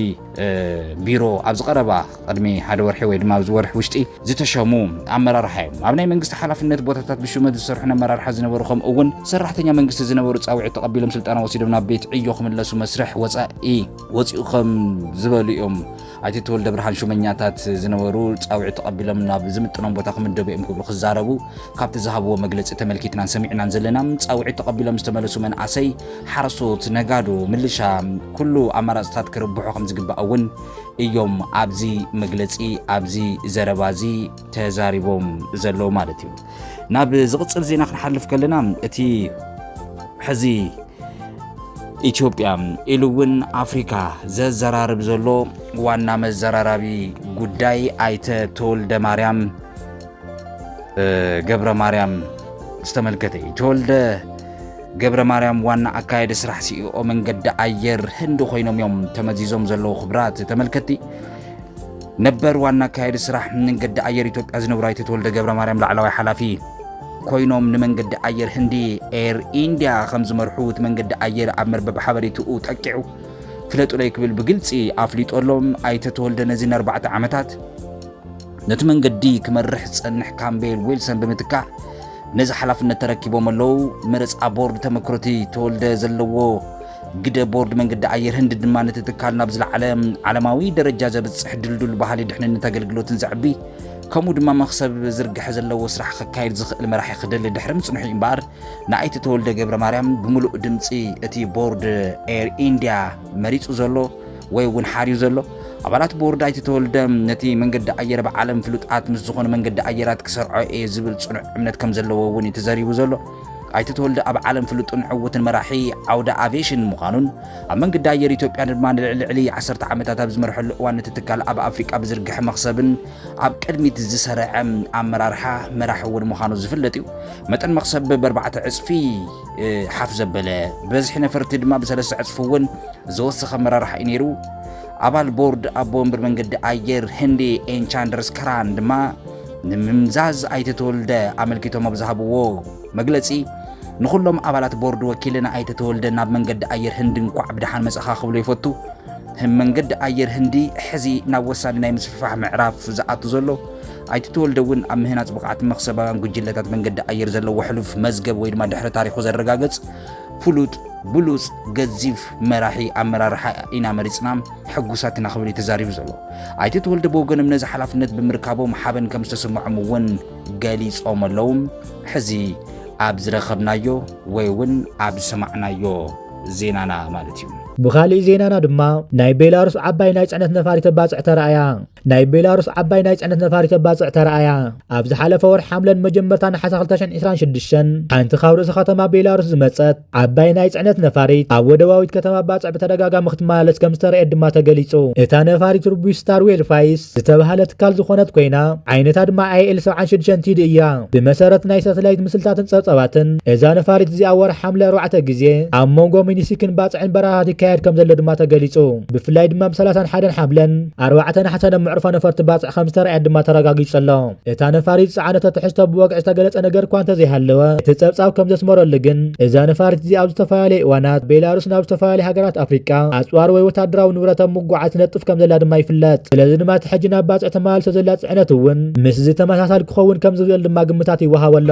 ቢሮ ኣብዚ ቀረባ ቅድሚ ሓደ ወርሒ ወይ ድማ ኣብዚ ወርሒ ውሽጢ ዝተሸሙ ኣመራርሓ እዮም። ኣብ ናይ መንግስቲ ሓላፍነት ቦታታት ብሹመት ዝሰርሑ ኣመራርሓ ዝነበሩ ከምኡ እውን ሰራሕተኛ መንግስቲ ዝነበሩ ፃውዒት ተቐቢሎም ስልጠና ወሲዶም ናብ ቤት ዕዮ ክምለሱ መስርሕ ወፃኢ ወፂኡ ከም ዝበሉ እዮም ኣይተ ተወልደብርሃን ሹመኛታት ዝነበሩ ፃውዒት ተቐቢሎም ናብ ዝምጥኖም ቦታ ክምደቡ እዮም ክብሉ ክዛረቡ ካብቲ ዝሃብዎ መግለፂ ተመልኪትናን ሰሚዕናን ዘለና። ፃውዒት ተቐቢሎም ዝተመለሱ መናእሰይ፣ ሓረስቶት፣ ነጋዶ፣ ምልሻ ኩሉ ኣማራፅታት ክርብሑ ከምዝግባእ እውን እዮም ኣብዚ መግለፂ ኣብዚ ዘረባ እዚ ተዛሪቦም ዘለዉ ማለት እዩ። ናብ ዝቕፅል ዜና ክንሓልፍ ከለና እቲ ሕዚ ኢትዮጵያ ኢሉ እውን ኣፍሪካ ዘዘራርብ ዘሎ ዋና መዘራራቢ ጉዳይ ኣይተ ተወልደ ማርያም ገብረ ማርያም ዝተመልከተ እዩ ተወልደ ገብረ ማርያም ዋና ኣካየዲ ስራሕ ሲኢኦ መንገዲ ኣየር ህንዲ ኮይኖም እዮም ተመዚዞም ዘለዉ ክብራት ተመልከቲ ነበር ዋና ኣካየዲ ስራሕ መንገዲ ኣየር ኢትዮጵያ ዝነብሩ ኣይተ ተወልደ ገብረ ማርያም ላዕለዋይ ሓላፊ ኮይኖም ንመንገዲ ኣየር ህንዲ ኤር ኢንድያ ከም ዝመርሑ እቲ መንገዲ ኣየር ኣብ መርበብ ሓበሬትኡ ጠቂዑ ፍለጡለይ ክብል ብግልፂ ኣፍሊጦ ኣሎም ኣይተ ተወልደ ነዚ ንኣርባዕተ ዓመታት ነቲ መንገዲ ክመርሕ ዝፀንሕ ካምቤል ዊልሰን ብምትካእ ነዚ ሓላፍነት ተረኪቦም ኣለው መረፃ ቦርድ ተመክሮቲ ተወልደ ዘለዎ ግደ ቦርድ መንገዲ ኣየር ህንዲ ድማ ነቲ ትካል ናብ ዝለዓለ ዓለማዊ ደረጃ ዘብፅሕ ድልዱል ባህሊ ድሕንነት ኣገልግሎትን ዘዕቢ ከምኡ ድማ መኽሰብ ዝርግሐ ዘለዎ ስራሕ ክካየድ ዝኽእል መራሒ ክደሊ ድሕሪ ምጽንሑ እምበኣር ንኣይተ ተወልደ ገብረ ማርያም ብምሉእ ድምፂ እቲ ቦርድ ኤር ኢንድያ መሪፁ ዘሎ ወይ እውን ሓርዩ ዘሎ ኣባላት ቦርድ ኣይተ ተወልደ ነቲ መንገዲ ኣየር ብዓለም ፍሉጣት ምስ ዝኾኑ መንገዲ ኣየራት ክሰርዖ እየ ዝብል ፅኑዕ እምነት ከም ዘለዎ እውን እዩ ተዘሪቡ ዘሎ ኣይተ ተወልደ ኣብ ዓለም ፍሉጥን ዕውትን መራሒ ዓውደ ኣቬሽን ምዃኑን ኣብ መንገዲ ኣየር ኢትዮጵያ ድማ ንልዕሊ ዓሰርተ ዓመታት ኣብ ዝመርሐሉ እዋን እቲ ትካል ኣብ ኣፍሪቃ ብዝርግሐ መኽሰብን ኣብ ቅድሚት ዝሰረዐ ኣመራርሓ መራሒ እውን ምዃኑ ዝፍለጥ እዩ። መጠን መኽሰብ ብኣርባዕተ ዕፅፊ ሓፍ ዘበለ ብበዝሒ ነፈርቲ ድማ ብሰለስተ ዕፅፊ እውን ዝወሰኸ ኣመራርሓ እዩ ነይሩ። ኣባል ቦርድ ኣቦ ወንበር መንገዲ ኣየር ህንዲ ኤንቻንደርስ ከራን ድማ ንምምዛዝ ኣይተ ተወልደ ኣመልኪቶም ኣብ ዝሃብዎ መግለፂ ንኹሎም ኣባላት ቦርድ ወኪልን ኣይተ ተወልደ ናብ መንገዲ ኣየር ህንዲ እንኳዕ ብደሓን መፀኻ ክብሉ ይፈቱ። መንገዲ ኣየር ህንዲ ሕዚ ናብ ወሳኒ ናይ ምስፍፋሕ ምዕራፍ ዝኣቱ ዘሎ ኣይተ ተወልደ እውን ኣብ ምህናፅ ብቕዓት መክሰባውያን ጉጅለታት መንገዲ ኣየር ዘለዎ ሕሉፍ መዝገብ ወይ ድማ ድሕረ ታሪኹ ዘረጋገፅ ፍሉጥ ብሉፅ ገዚፍ መራሒ ኣመራርሓ ኢና መሪፅና ሕጉሳት ኢና ክብል እዩ ተዛሪቡ ዘሎ። ኣይተ ተወልደ ብወገኖም ነዚ ሓላፍነት ብምርካቦም ሓበን ከም ዝተሰምዖም እውን ገሊፆም ኣለዉ። ሕዚ ኣብ ዝረኸብናዮ ወይ እውን ኣብ ዝሰማዕናዮ ዜናና ማለት እዩ። ብኻሊእ ዜናና ድማ ናይ ቤላሩስ ዓባይ ናይ ፅዕነት ነፋሪት ተባፅሕ ተራእያ። ናይ ቤላሩስ ዓባይ ናይ ፅዕነት ነፋሪት ተባፅዕ ተራእያ። ኣብ ዝሓለፈ ወርሒ ሓምለን መጀመርታ ነሓሰ 2026 ሓንቲ ካብ ርእሰ ከተማ ቤላሩስ ዝመፀት ዓባይ ናይ ፅዕነት ነፋሪት ኣብ ወደባዊት ከተማ ባፅዕ ብተደጋጋሚ ክትመላለስ ከም ዝተረእየት ድማ ተገሊፁ። እታ ነፋሪት ርቡሽ ስታር ዌል ፋይስ ዝተብሃለ ትካል ዝኾነት ኮይና ዓይነታ ድማ ኣይኤል 76 ቲዲ እያ። ብመሰረት ናይ ሳተላይት ምስልታትን ፀብፃባትን እዛ ነፋሪት እዚኣ ወርሒ ሓምለ ኣርባዕተ ግዜ ኣብ ሞንጎ ሚኒሲክን ባፅዕን በረራታት ይካየድ ከም ዘሎ ድማ ተገሊፁ። ብፍላይ ድማ ብ ሰላሳን ሓደን ሓብለን ኣርባዕተ ናሕሰን ኣብ መዕርፎ ነፈርቲ ባጽዕ ከም ዝተራእየት ድማ ተረጋጊጹ ኣሎ። እታ ነፋሪት ዝጸዓነቶ ትሕዝቶ ብወግዒ ዝተገለጸ ነገር እኳ እንተዘይሃለወ፣ እቲ ጸብጻብ ከም ዘስመረሉ ግን እዛ ነፋሪት እዚኣ ኣብ ዝተፈላለየ እዋናት ቤላሩስ ናብ ዝተፈላለያ ሃገራት ኣፍሪቃ ኣጽዋር ወይ ወተሃደራዊ ንብረት ኣብ ምጉዓዝ ትነጥፍ ከም ዘላ ድማ ይፍለጥ። ስለዚ ድማ እቲ ሕጂ ናብ ባጽዕ ተመላሊሶ ዘላ ጽዕነት እውን ምስዚ ተመሳሳሊ ክኸውን ከም ዝኽእል ድማ ግምታት ይወሃቦ ኣሎ።